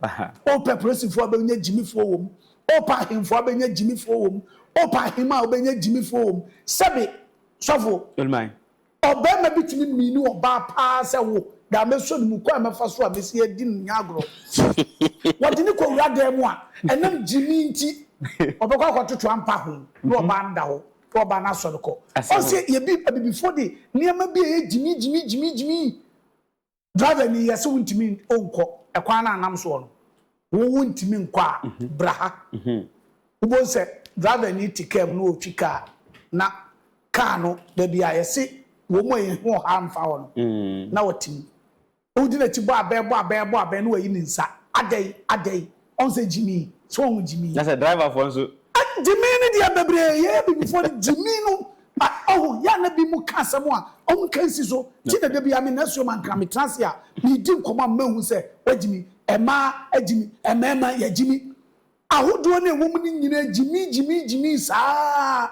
Wopɛ polisifoɔ a, wobɛnya gyimifoɔ wɔ mu. Wopɛ ahemfoɔ a, wobɛnya gyimifoɔ wɔ mu. Wopɛ ahemaa a, wobɛnya gyimifoɔ wɔ mu. Sɛbe, sɔfo? Olman, Ɔbarima bi tumi miini ɔbaa paa sɛ wo da a mɛsɔ ne mu, kwan a mɛfa so a mɛsi adi no nyɛ agorɔ. Wɔde no kɔwura dan mu a, ɛnam gyimii nti, ɔbɛkɔ akɔtoto ampa ho na ɔbaa no da hɔ na ɔbaa no asɔre kɔ. Ɔse yɛbi, abibifoɔ de nneɛma bi a ɛyɛ gyimii gyimii gyimii gyimii Driver ni yɛ se wo ntimi onkɔ ɛkwan no a nam soɔ no wo wo ntimi nkɔ a bra ha wo bohu sɛ driver ni te car mu na ɔretwi car na car no baabi a yɛ se wɔn a yɛ ho ɔha mfa hɔ no na ɔte mu na wo di n'akyi bɔ abɛn bɔ abɛn bɔ abɛn na wayi ne nsa adɛn adɛn Ɔn sɛ gyimii so ɔn gyimii. Na sɛ driver foɔ nso. Gyimii no deɛ bebree yɛyɛ abibifoɔ no gyimii no ɔho yɛ a na binom ka asɛm a ɔmo nka nsi so nti na dabiaa me nasuo ma nka me tena ase a me di nkɔmɔ a mɛhu sɛ wagyimi ɛmaa agyimi ɛmɛɛma yagyimi ahodoɔ no ɛwɔ mu no nyinaa gyimii gyimii gyimii saa.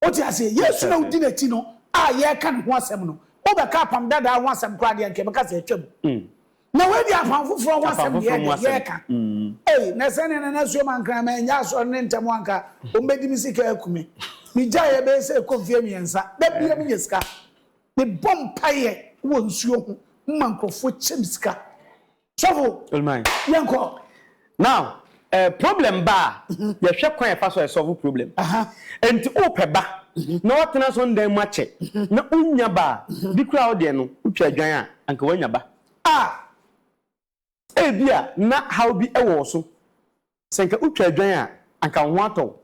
Wote aseɛ? Yesu na wodi n'akyi no a yɛreka ne ho asɛm no, wobɛka Apam Dadaa ho asɛm koraa deɛ, anka yɛbɛka sɛ atwam. Na wei deɛ Apam Foforɔ ho asɛm deɛ ɛdeɛ, yɛreka. Ei, na sɛdeɛ na Nasuo Mankrama annya asɔre no ntɛm a anka wɔbɛdi me sika aku me. Megyaeɛ ɛbɛyɛ sɛ ɛrekɔ mfeɛ mmiɛnsa. Da biara menya sika. Mebɔ mpaeɛ wɔ nsuo ho ma nkurɔfoɔ kyɛ me sika. Sɔfo, yɛn kɔ. Now, eh, problem ba a, mhm. yɛhwɛ kwan ɛfa so ɛsɔfo problem. Nti wopɛ ba mhm. na watena so ndan mu akyɛ mhm. na wonya ba a, bi kura wo deɛ no wotwa adwan a anka woanya ba. Ah! Ebi a na haw bi ɛwɔ wo so. Sɛ nka wotwa adwan a anka wo ho atɔ wo.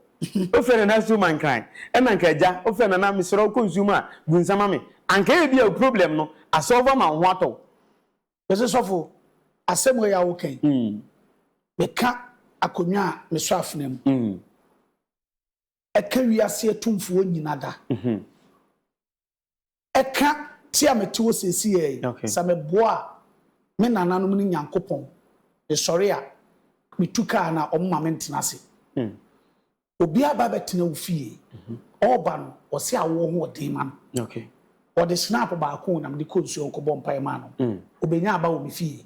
Wofrɛ nana nsuo ma nkran ɛna nka agya wofrɛ nana mesrɛ wo kɔ nsuo mu a gu nsa ma me. Anka ebi a problem no asɔfo ama wo ho atɔ wo. Mese sɔfo asɛm wei a woka yi meka akonnwa a mesɔ afena mu ɛka wiase atumfoɔ nyina da ɛka te a mete hɔ seesi yɛ yi sɛ meboa a me nananom ne nyankopɔn mesɔre a metu kaa no a ɔmoma me ntena ase Obi aba abɛtena wo fie. Ɔreba no, ɔse awoɔ ho ɔden ma no. Ɔde snap baako o na mede kɔɔ nsuo ho kɔbɔɔ mpaeɛ maa no. Ɔbɛnya aba wɔ me fie.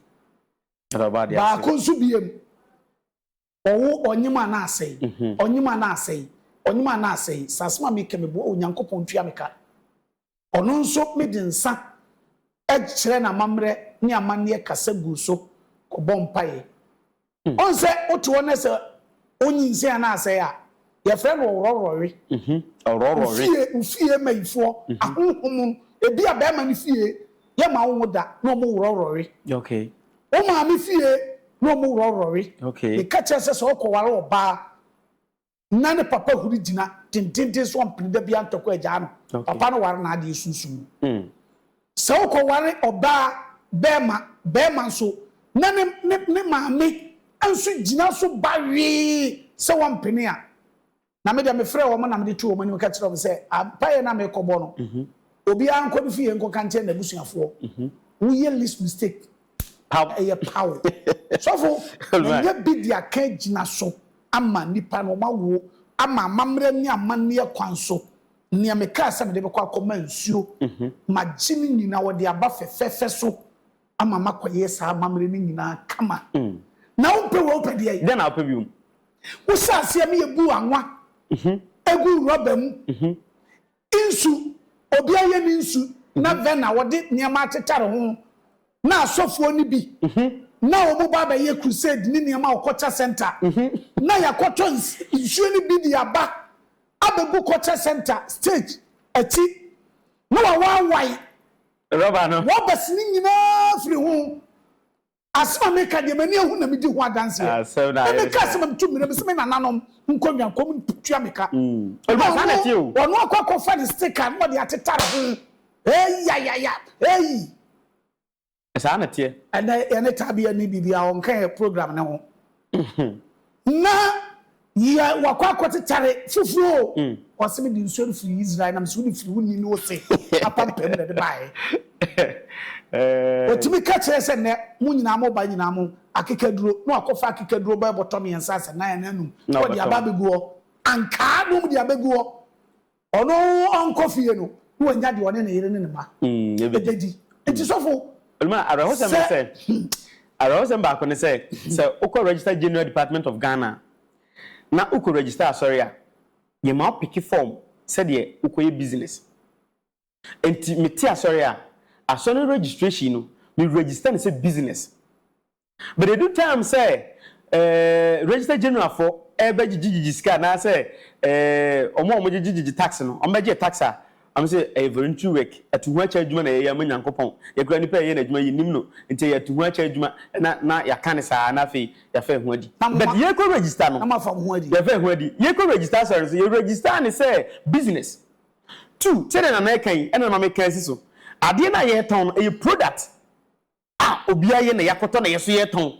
Baako nso biom, ɔwo ɔnyem a na asɛe, ɔnyem a na asɛe, ɔnyem a na asɛe. Sɛ asɛm a meka yi, meboa wo, Nyankopɔn ntua me ka. Ɔno nso mede nsa kyerɛ no amammerɛ ne amanneɛ kasa gu so kɔbɔ mpaeɛ. Ɔn sɛ wote hɔ na sɛ ɔnyinsɛn anaa asɛe a, yɛfrɛ no ɔworɔworɔwe. Ofie ofie mayifoɔ, ahonhom, ebi a barima no fie yɛ ma wo ho da na ɔmo worɔworɔwe. Wo maame fie na ɔmo worɔworɔwe. Meka kyerɛ sɛ sɛ ɔkɔware ɔbaa na ne papa huri gyina dendenden so ampene da biara ntɔkwa agyaa no. Papa no ware n'adeɛ sunsum mu. Hmm. Sɛ wokɔware ɔbaa bɛrima bɛrima nso na ne ne ne maame nso gyina so bawee sɛ wɔmpene a, na me deɛ mefrɛ wɔn na mede to wɔn anim ka kyerɛ wɔn sɛ ampaeɛ na mekɔbɔ no. Mhm. Obiara nkɔ ne fie nkɔka nkyɛn n'abusuafoɔ. Mhm. Woyɛ least mistake. Pam. Ɛyɛ paw. Sɔfo, ɛnyɛ bi de aka gyina so. ama nnipa no, wɔawo ama amammerɛ ne amanneɛ kwan so. Nea mekaa sɛ mede bɛkɔ akɔma nsuo, magye no nyinaa, wɔde aba fɛfɛɛfɛ so ama makɔyɛ saa amammerɛ no nyinaa kama. Na wompɛ wei a, wopɛ deɛn? Dɛn na wopɛ bio? Wohyɛɛ aseɛ ne yɛbuu anwa guu rɔba mu. Nsu, Obiara yɛ ne nsu na vɛ na wɔde nneɛma atetare ho na asɔfoɔ no bi na wɔn ba abɛyɛ crusade ne nneɛma wɔ culture centre na yɛakɔtɔ nsuo no bi de aba abɛgu culture centre stage akyi na wɔawaawae rubber no. Rubbers no nyinaa firi ho Asɛm a meka deɛ m'ani ahu na medi ho adanseɛ. Na meka asɛm a metu mmira mu sɛ me nananom nkɔ nnwankɔm ntua me ka. Na ɔno, ɔno akɔ akɔfa ne sticker na ɔde atetare ho. Eii yayaya, eii. Saa na ɛteɛ. Ɛnɛ yɛne Tabea nni biribiara, ɔnka yɛn program no ho. Na yɛ wakɔ akɔtetare fufuo o. Ɔse me de nsuo no firi Israel na me se wo de firi wo ni ne wo se apampam na de baɛ. Ɔtumi ka kyerɛ sɛ nɛ mo nyinaa mo ba nyinaa mo akekaduro na wakɔ fa akekaduro bɛɛ bɔtɔ mmiɛnsa asɛ nan anaa num na ɔde aba abɛgu hɔ ankaa na ɔmu de abɛgu hɔ. Ɔno ɔnkɔ fie no, na wanya deɛ ɔne ne yere ne ne mma bɛdi. Nti sɔfo, sɛ. Awerɛhosɛm baako ne sɛ, sɛ wokɔ Register General Department of Ghana a, na wokɔ register asɔre a, yɛma wo peke fɔm sɛdeɛ wokɔyɛ business. Nti mete asɔre a, asɔre no registration no, me register no sɛ business. But edu time sɛ eh, register general fo ɛbɛgyegye gyegye sika anaasɛ eh, ɔmo a ɔmo gyegye gyegye tax no ɔmo bɛgye tax a ɔmo sɛ ɛyɛ voluntary work ɛto ho akyɛ adwuma na yɛyɛ ama nyankopɔn yɛkura nipa a yɛyɛ n'adwuma yɛ nim no nti ɛyɛ ɛto ho akyɛ adwuma na na yɛaka ne saa na afei yɛafa ɛho adi Na mo but ma- yɛkɔ register no na moafa mo ho adi. yɛfa ɛho adi yɛkɔ register asɔre no so yɛ register ne sɛ business two sɛdeɛ nana ɛka yi ɛna ma meka asi so adeɛ no a yɛtɔn no ɛyɛ product a obiara yɛ na yɛakɔtɔ na yɛn nso yɛretɔn.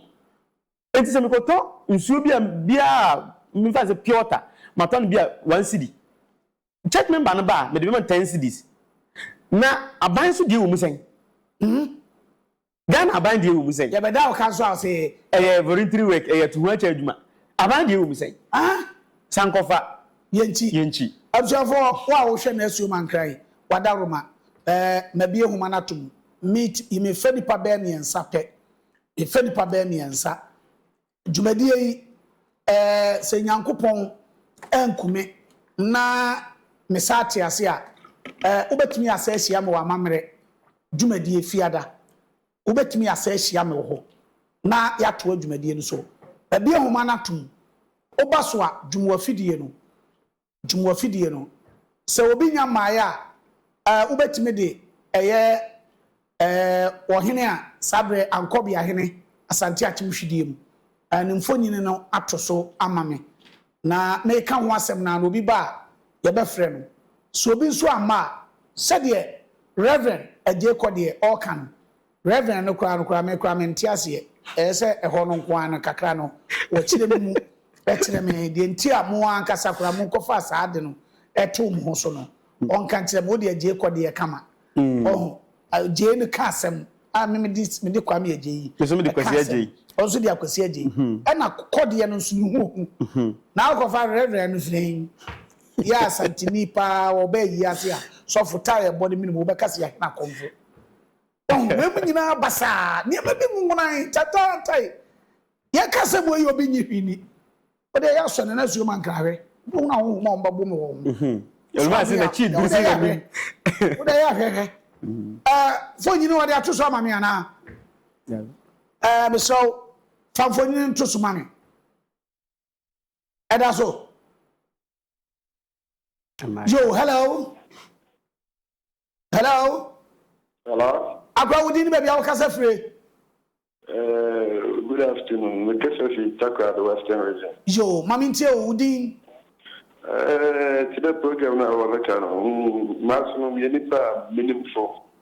Enti sɛ mekɔtɔ nsuo bi a biara a memfa nsɛ pure water matɔ no bi a one cedi. Church member no ba a mede bɛma no ten cedis. Na aban nso deɛ wɔ mu sɛn? Hmm? Ghana aban deɛ wɔ mu sɛn? Yɛbɛda wo ka nso a ɔse ee. Ɛyɛ voluntary work, ɛyɛ to ho akyɛ adwuma. Aban deɛ wɔ mu sɛn? Ah? San kɔfa. Yɛnkyi. Yɛnkyi. Abusuafoɔ, wo a wohwɛ Nasuo Mankra yi, wadaworo ma. Ɛɛ, mabue nwoma no ato mu. meet yi me fɛ nipa bɛyɛ miɛnsa pɛ me fɛ nipa bɛyɛ miɛnsa dwumadie yi ɛɛ sɛ nyankopɔn ɛnkume na me saa te ase a ɛɛ wobɛtumi asa ahyia me wɔ amamerɛ dwumadie fiada wobɛtumi asa ahyia me wɔ hɔ na yatoa dwumadie no so ɛbia homa no atom woba so a dwuma afidie no. Tum wɔ fidie no. Sɛ obi nya mmaeɛ a, eh, wobɛtumi de ɛyɛ, eh, ɔhene a saa berɛ Ankɔbeahene Asante Akim hwidie mu, eh, ne mfonini no ato so ama me. Na meka ho asɛm no ara na obi ba a, yɛbɛfrɛ no. Sɛ obi nso amma a, sɛdeɛ Rev. Agyekɔ deɛ ɔreka no, Rev. No koraa no koraa me koraa me nte aseɛ ɛyɛ sɛ ɛhɔ no nko ara no kakra no wɔ kyerɛ me mu ɛkyerɛ me deɛ nti a mo ankasa koraa mo nkɔfaa saa ade no ɛtoo mo ho so no ɔnka nkyerɛ me wodeɛ gyee kɔ deɛ kama ɔho gyei no ka asɛm a me mede mede kwame agyei ɛka asɛm ɔnso de akwasi agyei ɛna kɔdeɛ no nso mehu ohu na akɔfa Rev. No firi yɛ asantini paa wɔbɛ ayi ase a sɔfo tae ɛbɔ no menim wobɛka sɛ yɛahena kɔmfo Wahu wei mu nyinaa basaa. Nneɛma bi nwonan, tantaantae. Deɛ ɛka sɛ mo yi obi nye hwi ni. Wode ɛyɛ asɔ nana suo ma nkra hwɛ. Wobɛhu na honhom a wɔbɛbɔ me wɔ wo ho. Wosɔ ade a, deɛ wode ɛyɛ ahwɛ. Wode ɛyɛ ahwɛ hwɛ. Eh, mfonyi no wɔde ato so ama me anaa? Eh, mesrɛ wo, fa mfonyi no nto so ma me. Ɛda so. Yo, hello. Hello. Hello. Akwa wo din baabi a wokasa fire. Uh, good afternoon. Mekasa fi Takra, the Western region. Yo, mami ntie wo din. Uh, ti dɛ program na wɔbɛka no, mm, maaso no meyɛ nipa a menim fo.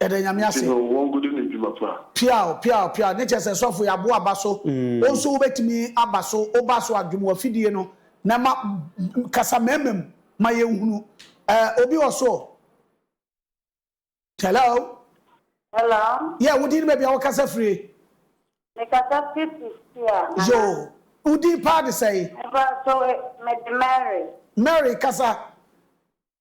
Yɛda Nyame ase. Nti no wɔ nkodo ne dwuma pa. Piaw piaw piaw ne kyerɛ sɛ sɔfo yɛ aboa ba so wo nso wo bɛtumi aba so wo ba so a dwom wɔ afidie no na ɛma kasa mɛma mu ma yɛn hunu eh obi wɔ so o hello hello yeah wo din ne baabi a wo kasa firie me kasa firi Pretoria nana yo wo din paa de sɛe me ba so me de Mary Mary kasa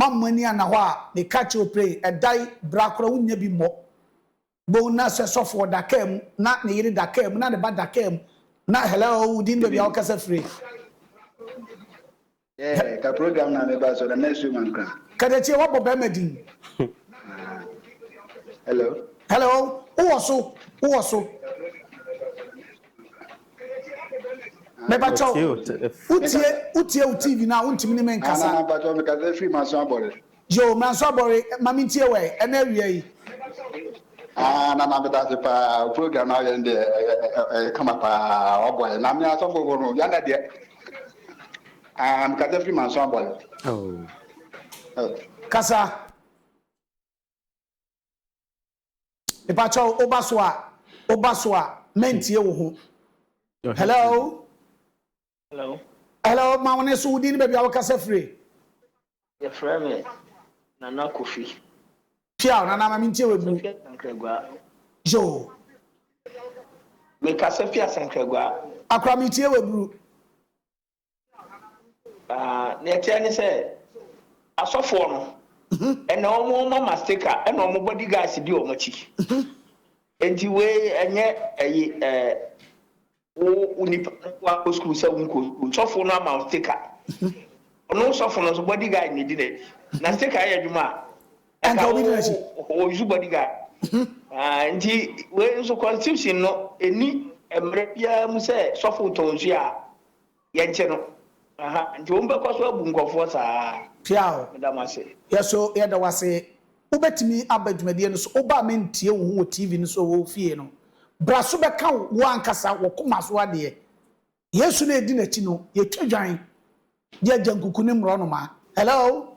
Mammɔ ani anna hɔ a meka kyerɛ Oprey, ɛda yi, bra koraa wonnya bi mmɔ. Boom na sɛ sɔfoɔ da kaa mu, na ne yere da kaa mu, na ne ba da kaa mu, na hello, wo din baabi a wokasa fire. Yeah, ka program na meba so na mɛsu ma nkra. Kadakyie wabɔ bɛrima din. Hello. Hello, wowɔ so, wowɔ so. Mepakyɛw, wotie wotie wo TV no a wontumi ne me nkasa? Nana mpakyɛw mekasa firi Manso Abɔre. Yoo, Manso Abɔre, ma mentie wɛn, ɛnɛ awia yi. Ah, Nana medase paa, wo program no a woyɛ no deɛ ɛyɛ kama paa, waboa yɛ. Na me asɔfofo no, Ghana deɛ, ah, mekasa firi Manso Abɔre. Oh. Oh. Kasa. Mepakyɛw woba so a woba so a mɛntie wo ho. Hello. Hello. Hello ma wo ne so wodin ne baabi a wokasa firi. Yɛfrɛ me Nana Kofi. Piaw Nana ma mentie wɔ mu. Yo. Mekasa fi Asankragua. Akora metie wɔ aburu. Ah, nea ɛteɛ ne sɛ, asɔfoɔ no, ɛna wɔn wɔma mastika, ɛna wɔn bodyguards di wɔn akyi. Enti wei ɛnyɛ ɛyi ɛɛ wo wo nipa no nko akɔ sukuu sɛ wo nkɔ sukuu. Sɔfo no ama wo stika. Ɔno sɔfo no nso bodyguard na edi n'akyi. Na stika yɛ adwuma a. Anka obi di n'akyi. Wɔyusu bodyguard. Ah, nti wei nso constitution no ɛni mmerɛ biara mu sɛ sɔfo tɔn nsuo a. yɛnkye no aha nti wɔn bɛkɔ so abu nkɔfoɔ saa. Piaw. Meda mo ase. Yɛ so yɛda wo ase. Wobɛtumi aba dwumadie no so. Woba a mentie wo ho wɔ TV no so wɔ wo fie no. Bra so bɛka wo ankasa wɔ koma so adeɛ. Yesu na yɛdi n'akyi no, yɛtwa dwan de agya nkuku ne mmorɔnoma. Hello?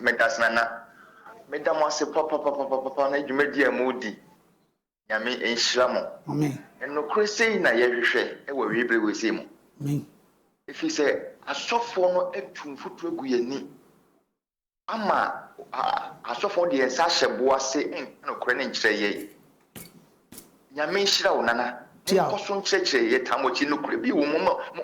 Medase Nana. Meda mo ase papapapapapa ne dwumadi a mo di. Nyame nhyira mo. Amen. Nokorɛ sei na yɛhwehwɛ wɔ wei bere wei sei mu. Amen. Ɛfiri sɛ asɔfoɔ no atu mfuturo agu yɛn ani ama asɔfoɔ no de yɛn nsa ahyɛ boɔ ase nka nokorɛ no nkyerɛ yɛn. Nyame nhyira wo nana. Monkɔ so nkyerɛkyerɛ yɛ taa mo akyi. Nokorɛ bi wɔ mu ma mo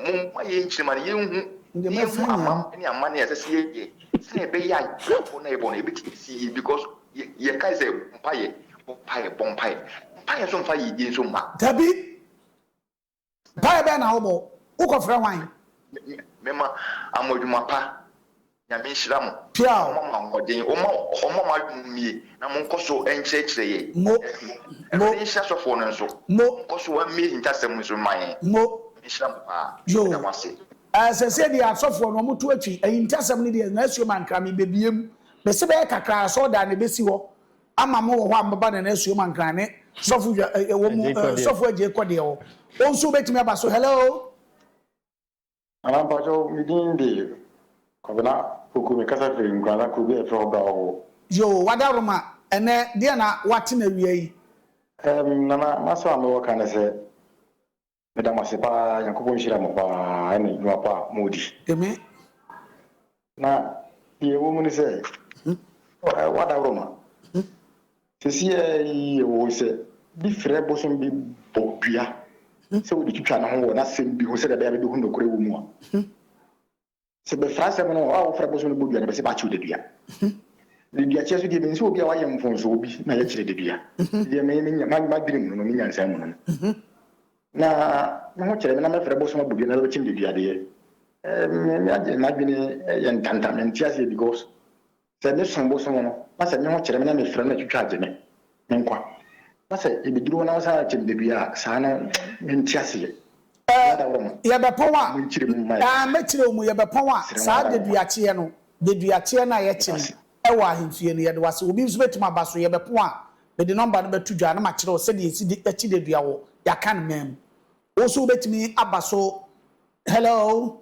mo mma yɛn nkyiri ma no yɛn hu na yɛn hu amam ne amanne a ɛsɛ sɛ yɛ yɛ sɛnea ɛbɛ yɛ a bra bɔ no a yɛ bɔ no ɛbɛ tumi asi yie because yɛ yɛ kae sɛ mpaeɛ bɔ mpaeɛ bɔ mpaeɛ mpaeɛ nso mfa yɛ yie nso mma. Dabi. Mpaeɛ bɛn na wobɔ? Wokɔfrɛ hwan? Me ma amo adwuma pa. Nyame nhyira mo. Piaw. Ɔmma mo ahoɔden. Ɔmma ɔmma mo adwene mmie na mo nkɔ so nkyerɛkyerɛ yɛn. Mo. Mo. Awurade nhyira sɔfoɔ no nso. Mo. Nkɔ so mmie ahintasɛm nso mma yɛn. Mo. Nyame nhyira mo paa. Yo. Meda mo ase. Ɛɛ sɛsɛ deɛ asɔfoɔ no wɔto atwi ahintasɛm no deɛ nwaasuo mankra mebɛbie mu. Mese bɛyɛ kakra asɔɔdan no ɛbɛsi hɔ ama mo wɔ hɔ a mobɛba Nana Asuom Ankrah ne Sɔfo Dwa eh, wɔ mu eh, Sɔfo Agye kɔ deɛ hɔ. Wo nso wobɛtumi aba so. Hello? Nana mpakyɛw me din de Kwabena Poku me kasa firi Nkurana kuro bi a yɛfrɛ hɔ Brawowo. Yoo wada roma ɛnɛ deɛ na wate na awia yi. Ɛɛm Nana masɛm a mewɔ ka ne sɛ Meda mo ase paa Nyankopɔn nhyira mo paa ɛne dwuma pa a mo di. Amen. Na deɛ ɛwɔ mu ne sɛ w'adaworoma sɛsiɛ yi ɛwɔ sɛ bi frɛ bosom bi bɔ dua sɛ wode twitwa ne ho wɔ n'asɛm bi ho sɛdeɛ ɛbɛyɛ a bɛbɛhu nokorɛ wɔ mu a. Sɛ bɛfra asɛm no a, a wɔfrɛ bosom no bodua no, bɛse bɛakyew dadua. Daduakyɛ so deɛ, menim sɛ obi a wayɛ mfomsoɔ bi na yɛkyere dadua. Deɛ me, me, ma, madwene mu no no, me nyansaa mu no no, na me ho kyere me na mɛfrɛ bosom abodua na bɛbɛkyem dadua deɛ, eh, me, me agye, madwene yɛ ntanta, mente aseɛ because Sɛ me som bosoom no, na sɛ me ho kyere me na me frɛ no na twitwa agye me nkwa, na sɛ yɛbɛduru hɔ na wɔsan agye me bɛdua a, saa no me nte aseɛ. Ɛ, yɛbɛpɔn a, ɛ, mɛkyerɛ wo mu, yɛbɛpɔn a, saa deduakyeɛ no, deduakyeɛ no a yɛkye no wɔ ahemfie no, yɛde wo ase. Obi nso bɛtumi aba so, yɛbɛpɔn a, mede nɔmba no bɛto dwa na makyerɛ wo sɛdeɛ yɛsi de, kye dedua wɔ Yɛakan man mu. Wo nso wobɛtumi aba so. Hello.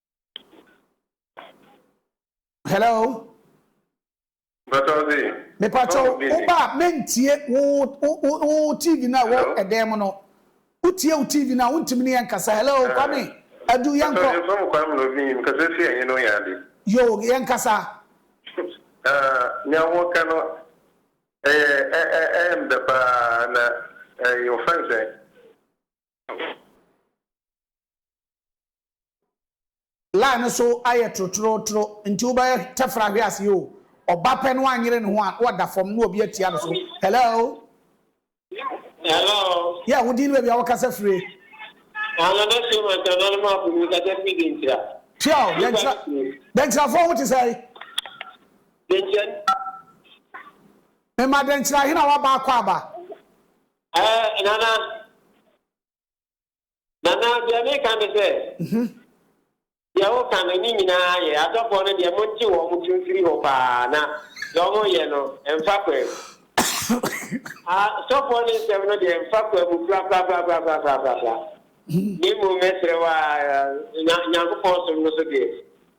hello. mepatɔ wo ba a mentie wo tv no a wɔ ɛdɛn mu no wotie wo tv no a wontumi ne yɛ nkasa hello eh. kwame adu yɛnkɔ yo yɛnkasa nea wɔka no ɛyɛ ɛyɛ mdɛ paa na ɛyɛ ɔfɛn sɛ Line no so ayɛ trotrootro nti wobɛyɛ tɛfra hwe ase oo. Ɔba pɛ no anyere ne ho a na wada fam na obi atia no so. Hello. Hello. Yeah, wo din ne baabi a wokasa fire. Anana Shem Antanan mu apo mu kasa firi Denkyira. Pia o, Denkyira, Denkyirafoɔ ho te sɛn? Denkyira. Mema Denkyira hena waba akɔ aba. Ɛɛ, Nana. Nana, deɛ meka ne sɛ, mhm. deɛ woka no ne nyinaa yɛ, asɔfoɔ no deɛ monte wɔn mo to mfiri hɔ paa, na deɛ wɔyɛ no, ɛmfa kwa mu. Asɔfoɔ no nsɛm no deɛ ɛmfa kwa mu korakorakorakorakorakorakorakoraa. Na mmom mɛsrɛ wo a, Nyankopɔn som no so deɛ,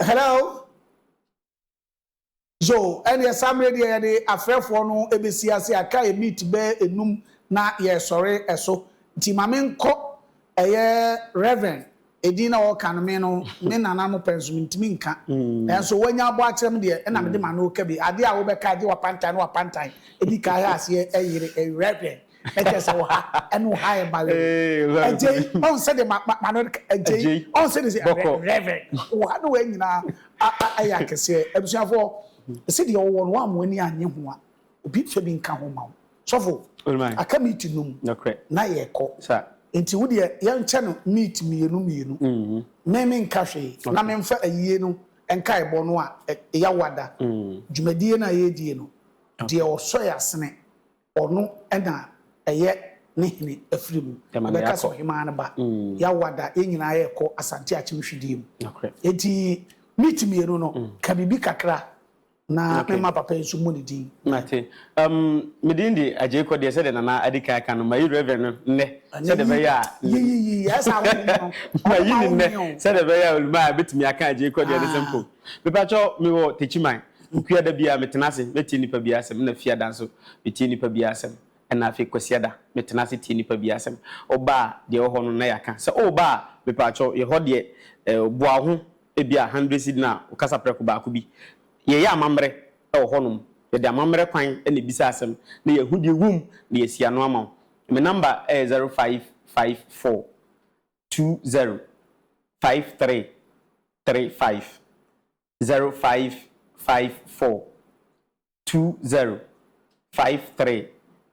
Hello So ɛneɛ saa mmerɛ deɛ yɛde afrɛfoɔ no bɛsi ase a car yɛ meet bɛɛ ɛnum na yɛresɔre ɛso nti ma me nkɔ ɛyɛ Rev. Ɛdin na ɔreka no me no me nana no pɛn so mentumi nka nanso wanya abɔ akyerɛ me deɛ ɛna mede ma no reka bi adeɛ a wobɛka gye wapantan ne wapantan ɛdi ka ha aseɛ ɛyere Rev. Ɛkyerɛ sɛ ɔha ɛne ɔha yɛ mma yɛ o. Ɛgye yi ɔn sɛ de ma ma ma no ɛgye yi ɔn sɛ de sɛ rɛvɛn ɔha ne wei nyinaa a a ɛyɛ akɛseɛ abusuafoɔ ɛsɛ deɛ ɔwɔ no wɔn a wɔn ani anye ho a obi nfa bi nka ho ma wo sɔfo aka meat num na yɛkɔ nti wo deɛ yɛn kyɛ no meat mmienu mmienu me me nka hwee na me nfa ayie no nka ɛbɔ no a ɛya wada dwumadie no a yɛredie no deɛ ɔsɔ yɛ asene. Ɔno na ɛyɛ ne hene afiri mu. Ɛbɛka sɛ ɔhemaa no ba. Yawada, yɛn nyinaa yɛrekɔ Asante Akyem hwidie mu. Enti meet mmienu no, ka biribi kakra na mema papa yi nso mmɔ ne din. Mate. Um, me din de Agyei Kɔdeɛ, sɛdeɛ Nana adi kan aka no, mayi Reverend no nnɛ, sɛdeɛ ɛbɛyɛ a, mayi ne nnɛ, sɛdeɛ ɛbɛyɛ a Olumah bɛtumi aka Agyei Kɔdeɛ no sɛ mpo. Mepakyɛw, mewɔ Techiman. Nnua da biara metena ase mɛtie nnipa biara asɛm, ɛna Fiada nso metie nnipa biara asɛm, ɛna afei Kwasiada metena ase tie nnipa biara asɛm. Woba a, deɛ ɛwɔ hɔ no na yɛaka. Sɛ woreba a, mepakyɛw, yɛ hɔ deɛ boa wo ho, ebia hundred cedi na wo kasa prɛko baako bi. Yɛyɛ amammerɛ wɔ hɔnom, yɛde amammerɛ kwan na ɛbisa asɛm na yɛahu deɛ ɛwom na yɛasi ano ama wo. Me number yɛ zero five five four two zero five three three five. zero five five four two zero five three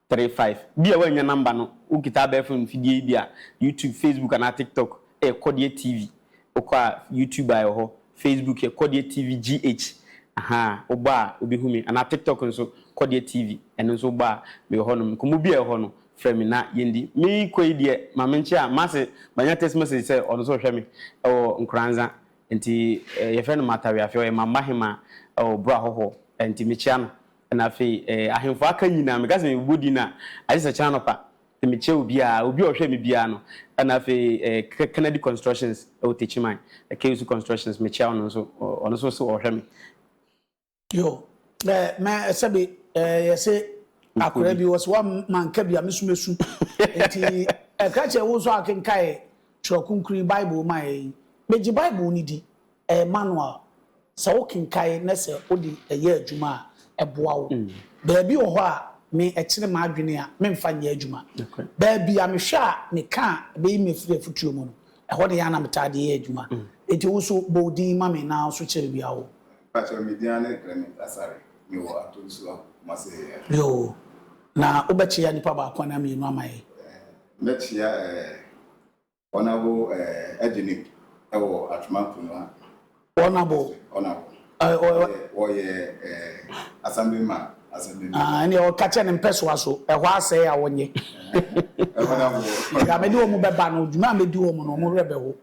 three five bi a woannya number no wo kita abɛɛfo mfidie yi bi a YouTube Facebook anaa TikTok ɛyɛ kɔdeɛ TV wokɔ a YouTube a ɛwɔ hɔ Facebook yɛ kɔdeɛ TV GH ahaa wobɔ a wobɛhu me anaa TikTok nso kɔdeɛ TV ɛno nso wobɔ a mewɔ hɔ nom nkɔmmɔ bi a ɛwɔ hɔ no frɛ me na yɛndi me kɔ yi deɛ ma me nkye a mase manya text message sɛ ɔno nso hwɛ me ɛwɔ nkoranza Nti yɛfrɛ no Matawea afei ɔyɛ Mamba hema wɔ Boro Ahohoɔ nti mekyia no na afei ahemfo aka nyinaa meka sɛ mebobɔ din a agye sɛ kyena anɔpa nti mekyia obiara obi a ɔhwɛ me biara no na afei Kennedy Constructions wɔ Techiman Kewusu Constructions mekyia ɔno nso ɔno nso se ɔhwɛ me Yo eh mɛ sɛbi eh yɛse akora bi wɔse wa ma nka bi a me so mesu nti ɛkra kyɛ wo nso akenkae twerɛ kunkuri bible ma yɛ yi megye bible ne di ɛyɛ manual sɛ wo kenkae ne sɛ wo de ɛyɛ adwuma a ɛboa wo baabi wɔ hɔ a me ɛkyere m'adwene a me mfa nyɛ adwuma baabi a me hwɛ a me ka a ɛbɛyi me firi afutuo mu no ɛhɔ ne yɛ ana me taa de yɛ adwuma nti wo so bɔ wo din ma me na wo so kyerɛ baabi a wo. Mpakyɛw me din ane Clement Asare me wɔ Ato Nsuwa Kumase he ɛ. Yoo, na wo bɛ kyea nipa baako anaa mmienu ama yɛ? Ɛɛ, mɛ kyea ɛɛ Honourable ɛɛ Agyinib ɛwɔ Atwema Nkonwa Honourable? Honourable, Ɛɛ, ɔ, ɔ, ɛɛ, wɔ yɛ ɛɛ Assembly man, Assembly man. Aa, ɛneɛ ɔ ka kyɛ ne mpɛsoa so, ɛhɔ a sɛɛ a ɔ nye. Ɛɛ, Honourable, Honourable. Ɛɛ, mɛ de wɔn bɛ ba no, dwuma a mɛ di wɔn no, wɔn werɛ bɛ ho.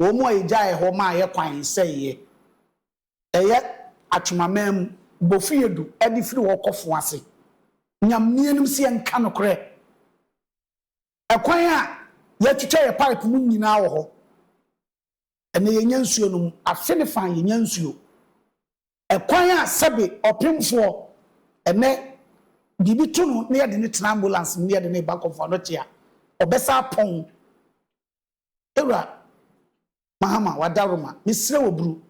wɔn a yegyaee hɔ maa yɛn kwan sɛeɛ. Ɛyɛ atwemamaa mu, bofie du de firi hɔ kɔ fo ase. Nyam nnianim sɛ yɛnka nokorɛ. Ɛkwan a yɛtwitwa yɛn pipe mu nyinaa wɔ hɔ. Ɛnnɛ yɛnnya nsuo nom. Afe ne fã yɛnnya nsuo. Ɛkwan a sɛbe ɔpemfoɔ ɛnɛ biribi to no na yɛde no tena ambulance mu na yɛde no reba akɔforo ano te a, ɔbɛsa apɔn wo. Yɛwura Mahama, Wadaroma, mesrɛ wo bru.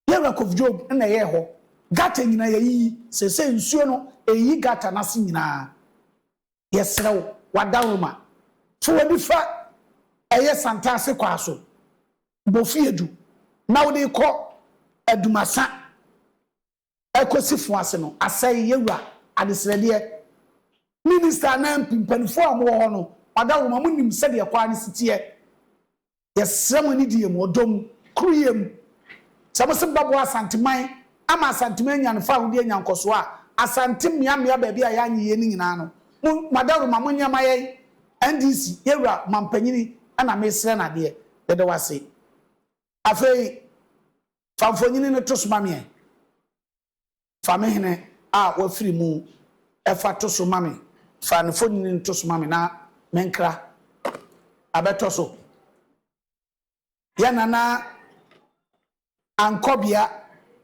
Yɛwura Kof Job na ɛyɛɛ hɔ. Gutter nyinaa yɛayiyi. Seesei nsuo no ɛreyiyi gutter no ase nyinaa. Yɛsrɛ wo, w'ada nwoma. Fa w'ani fa ɛyɛ Santase kwaa so, bɔ fie du na wode rekɔ Adumasa ɛkɔsi Foase no, asɛe yɛwura Adesrɛdeɛ. Minister anaa mp mpanifoɔ a wɔwɔ hɔ no, w'ada nwoma, monim sɛdeɛ kwaa no si teɛ. Yɛsrɛ mo anidie mu, ɔdɔ mu, koreyɛ mu, sɛ mo se mobɛboa Asanteman ama Asanteman anya ne fawodeɛ anya nkɔsoɔ a, Asante mmea mmea baabi a yɛanye yei no nyinaa no, mo, Madaruma, monyɛ ma yɛn. NDC, yɛn Wura Mampanyini na mesrɛ no adeɛ. Yɛda wo ase. Afei, fa mfonyini no to so ma meɛn. Fa me hene a wɔafiri mu fa to so ma me. Fa ne mfonini no to so ma me na menkra abɛtɔ so. Yɛn nana ankɔ bea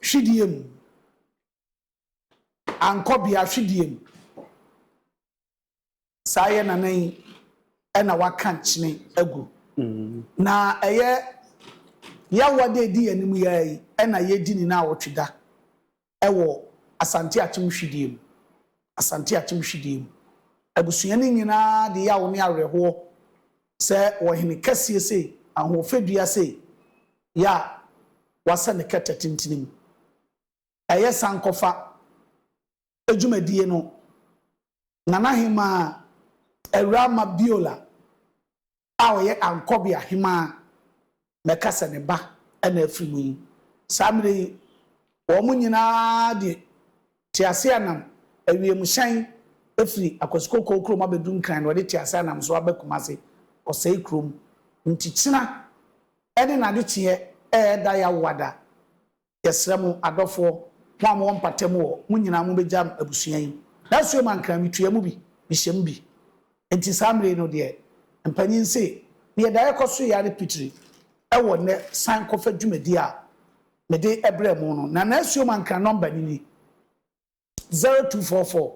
hwidie mu, ankɔ bea hwidie mu. Saa yɛ nana yi na waka nkyene agu. Na ɛyɛ yaw a ɛda adi yɛn anim yi ara yi na yɛredi ne nnawɔtwe da wɔ Asante Akyem Hwidie mu. Asante Akyem Hwidie mu. Abusua no nyinaa de yaw ne awerɛhoɔ sɛ wɔ hene kɛseɛ sei, ahoɔfɛ dua sei, yɛ a wɔasɛ no kɛtɛ tentene mu. ɛyɛ sankɔfa dwumadie no, Nana Hemaa Awuraa Mabiola a ɔyɛ Ankɔbea Hemaa na ɛka sɛ ne ba na afiri mu yi. Saa mmerɛ yi, wɔn nyina ara de teaseanam, awiemhyɛn firi Akwasi Kokoo kurom abɛduru Nkran na wɔde teaseanam nso aba Kumase, Ɔsɛe kurom. Nkyekyena ne n'adekyeɛ reda yawoada Yɛsrɛ mo, adɔfoɔ, mo a mowɔ mpatamu hɔ, mo nyinaa mobɛgya me abusua yi. Ná suom ankaa, metua mu bi, mehyɛ mu bi. Enti saa mmerɛ yi no deɛ, mpanin se, Neɛ daeɛ kɔ soeɛ ara ne pitiri wɔ nnɛ san kɔfa dwumadie a mede brɛɛ mo no. Na ná suom ankaa nɔmba no ni, zero two four four.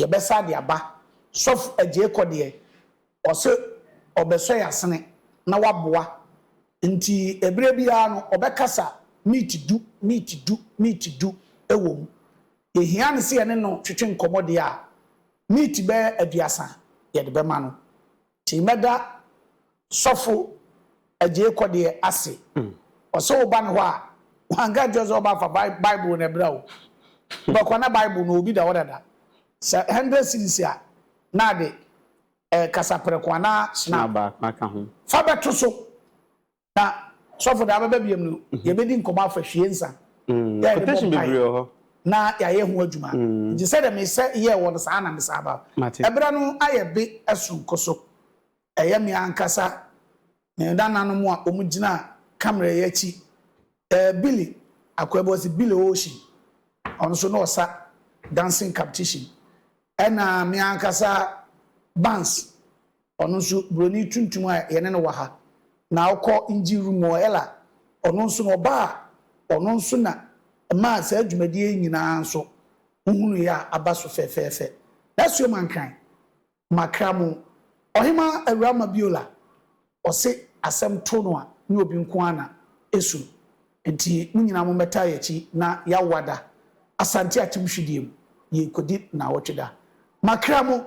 yɛbɛsa de aba sɔfo agyee kɔ deɛ ɔse ɔbɛsɔ yɛn asene na waboa nti ɛberɛ biara no ɔbɛkasa meet du meet du meet du ɛwɔ mu yɛhia no sɛ yɛne no twetwe nkɔmmɔ deɛ a meet bɛyɛ aduasa yɛde bɛma no Nti mɛda sɔfo Agyei Kɔdeɛ ase. Ɔsɛ woba ne hɔ a, wanka nkyerɛ sɛ ɔba fa Bible na ɛbrɛ wo. Wobɛkɔ na Bible no obi da hɔ dada. Sɛ hundred cedis a, na ade kasaprɛko anaa snap. Fa bɛto so. Na sɔfo daa bɛba biom no yɛbɛdi nkɔmɔ afa hwie nsa yɛ yɛde bɔ mpae na yɛayɛ ho adwuma nti sɛdeɛ mesɛ yɛɛ wɔ no saa na mesan ba ɛberɛ no ayɛ be soronko so ɛyɛ me ankasa me nananom a wɔn gyina kamera yi akyi ɛɛ Billy Akwabu ɔsi Billy Ocean ɔno nso na ɔsa dancing competition ɛna me ankasa Bans Ɔno nso broni tuntum a yɛne no wɔ ha na ɔkɔ engine room hɔ, Ella, ɔno nso na ɔba a ɔno nso na ɛmaa saa dwumadie yi nyinaa nso wohunuiɛ a aba so fɛfɛɛfɛ. Nasuo Mankran, makra mo. Ɔhemaa Awuraa Mabiola, ɔse asɛm to no a ne obi nko ara na ɛsu no. Enti mo nyinaa mommɛtaa yɛn akyi na yɛawada Asante Atim Hwedeɛ mu, yɛrekɔdi nnawɔtwe da. Makra mo!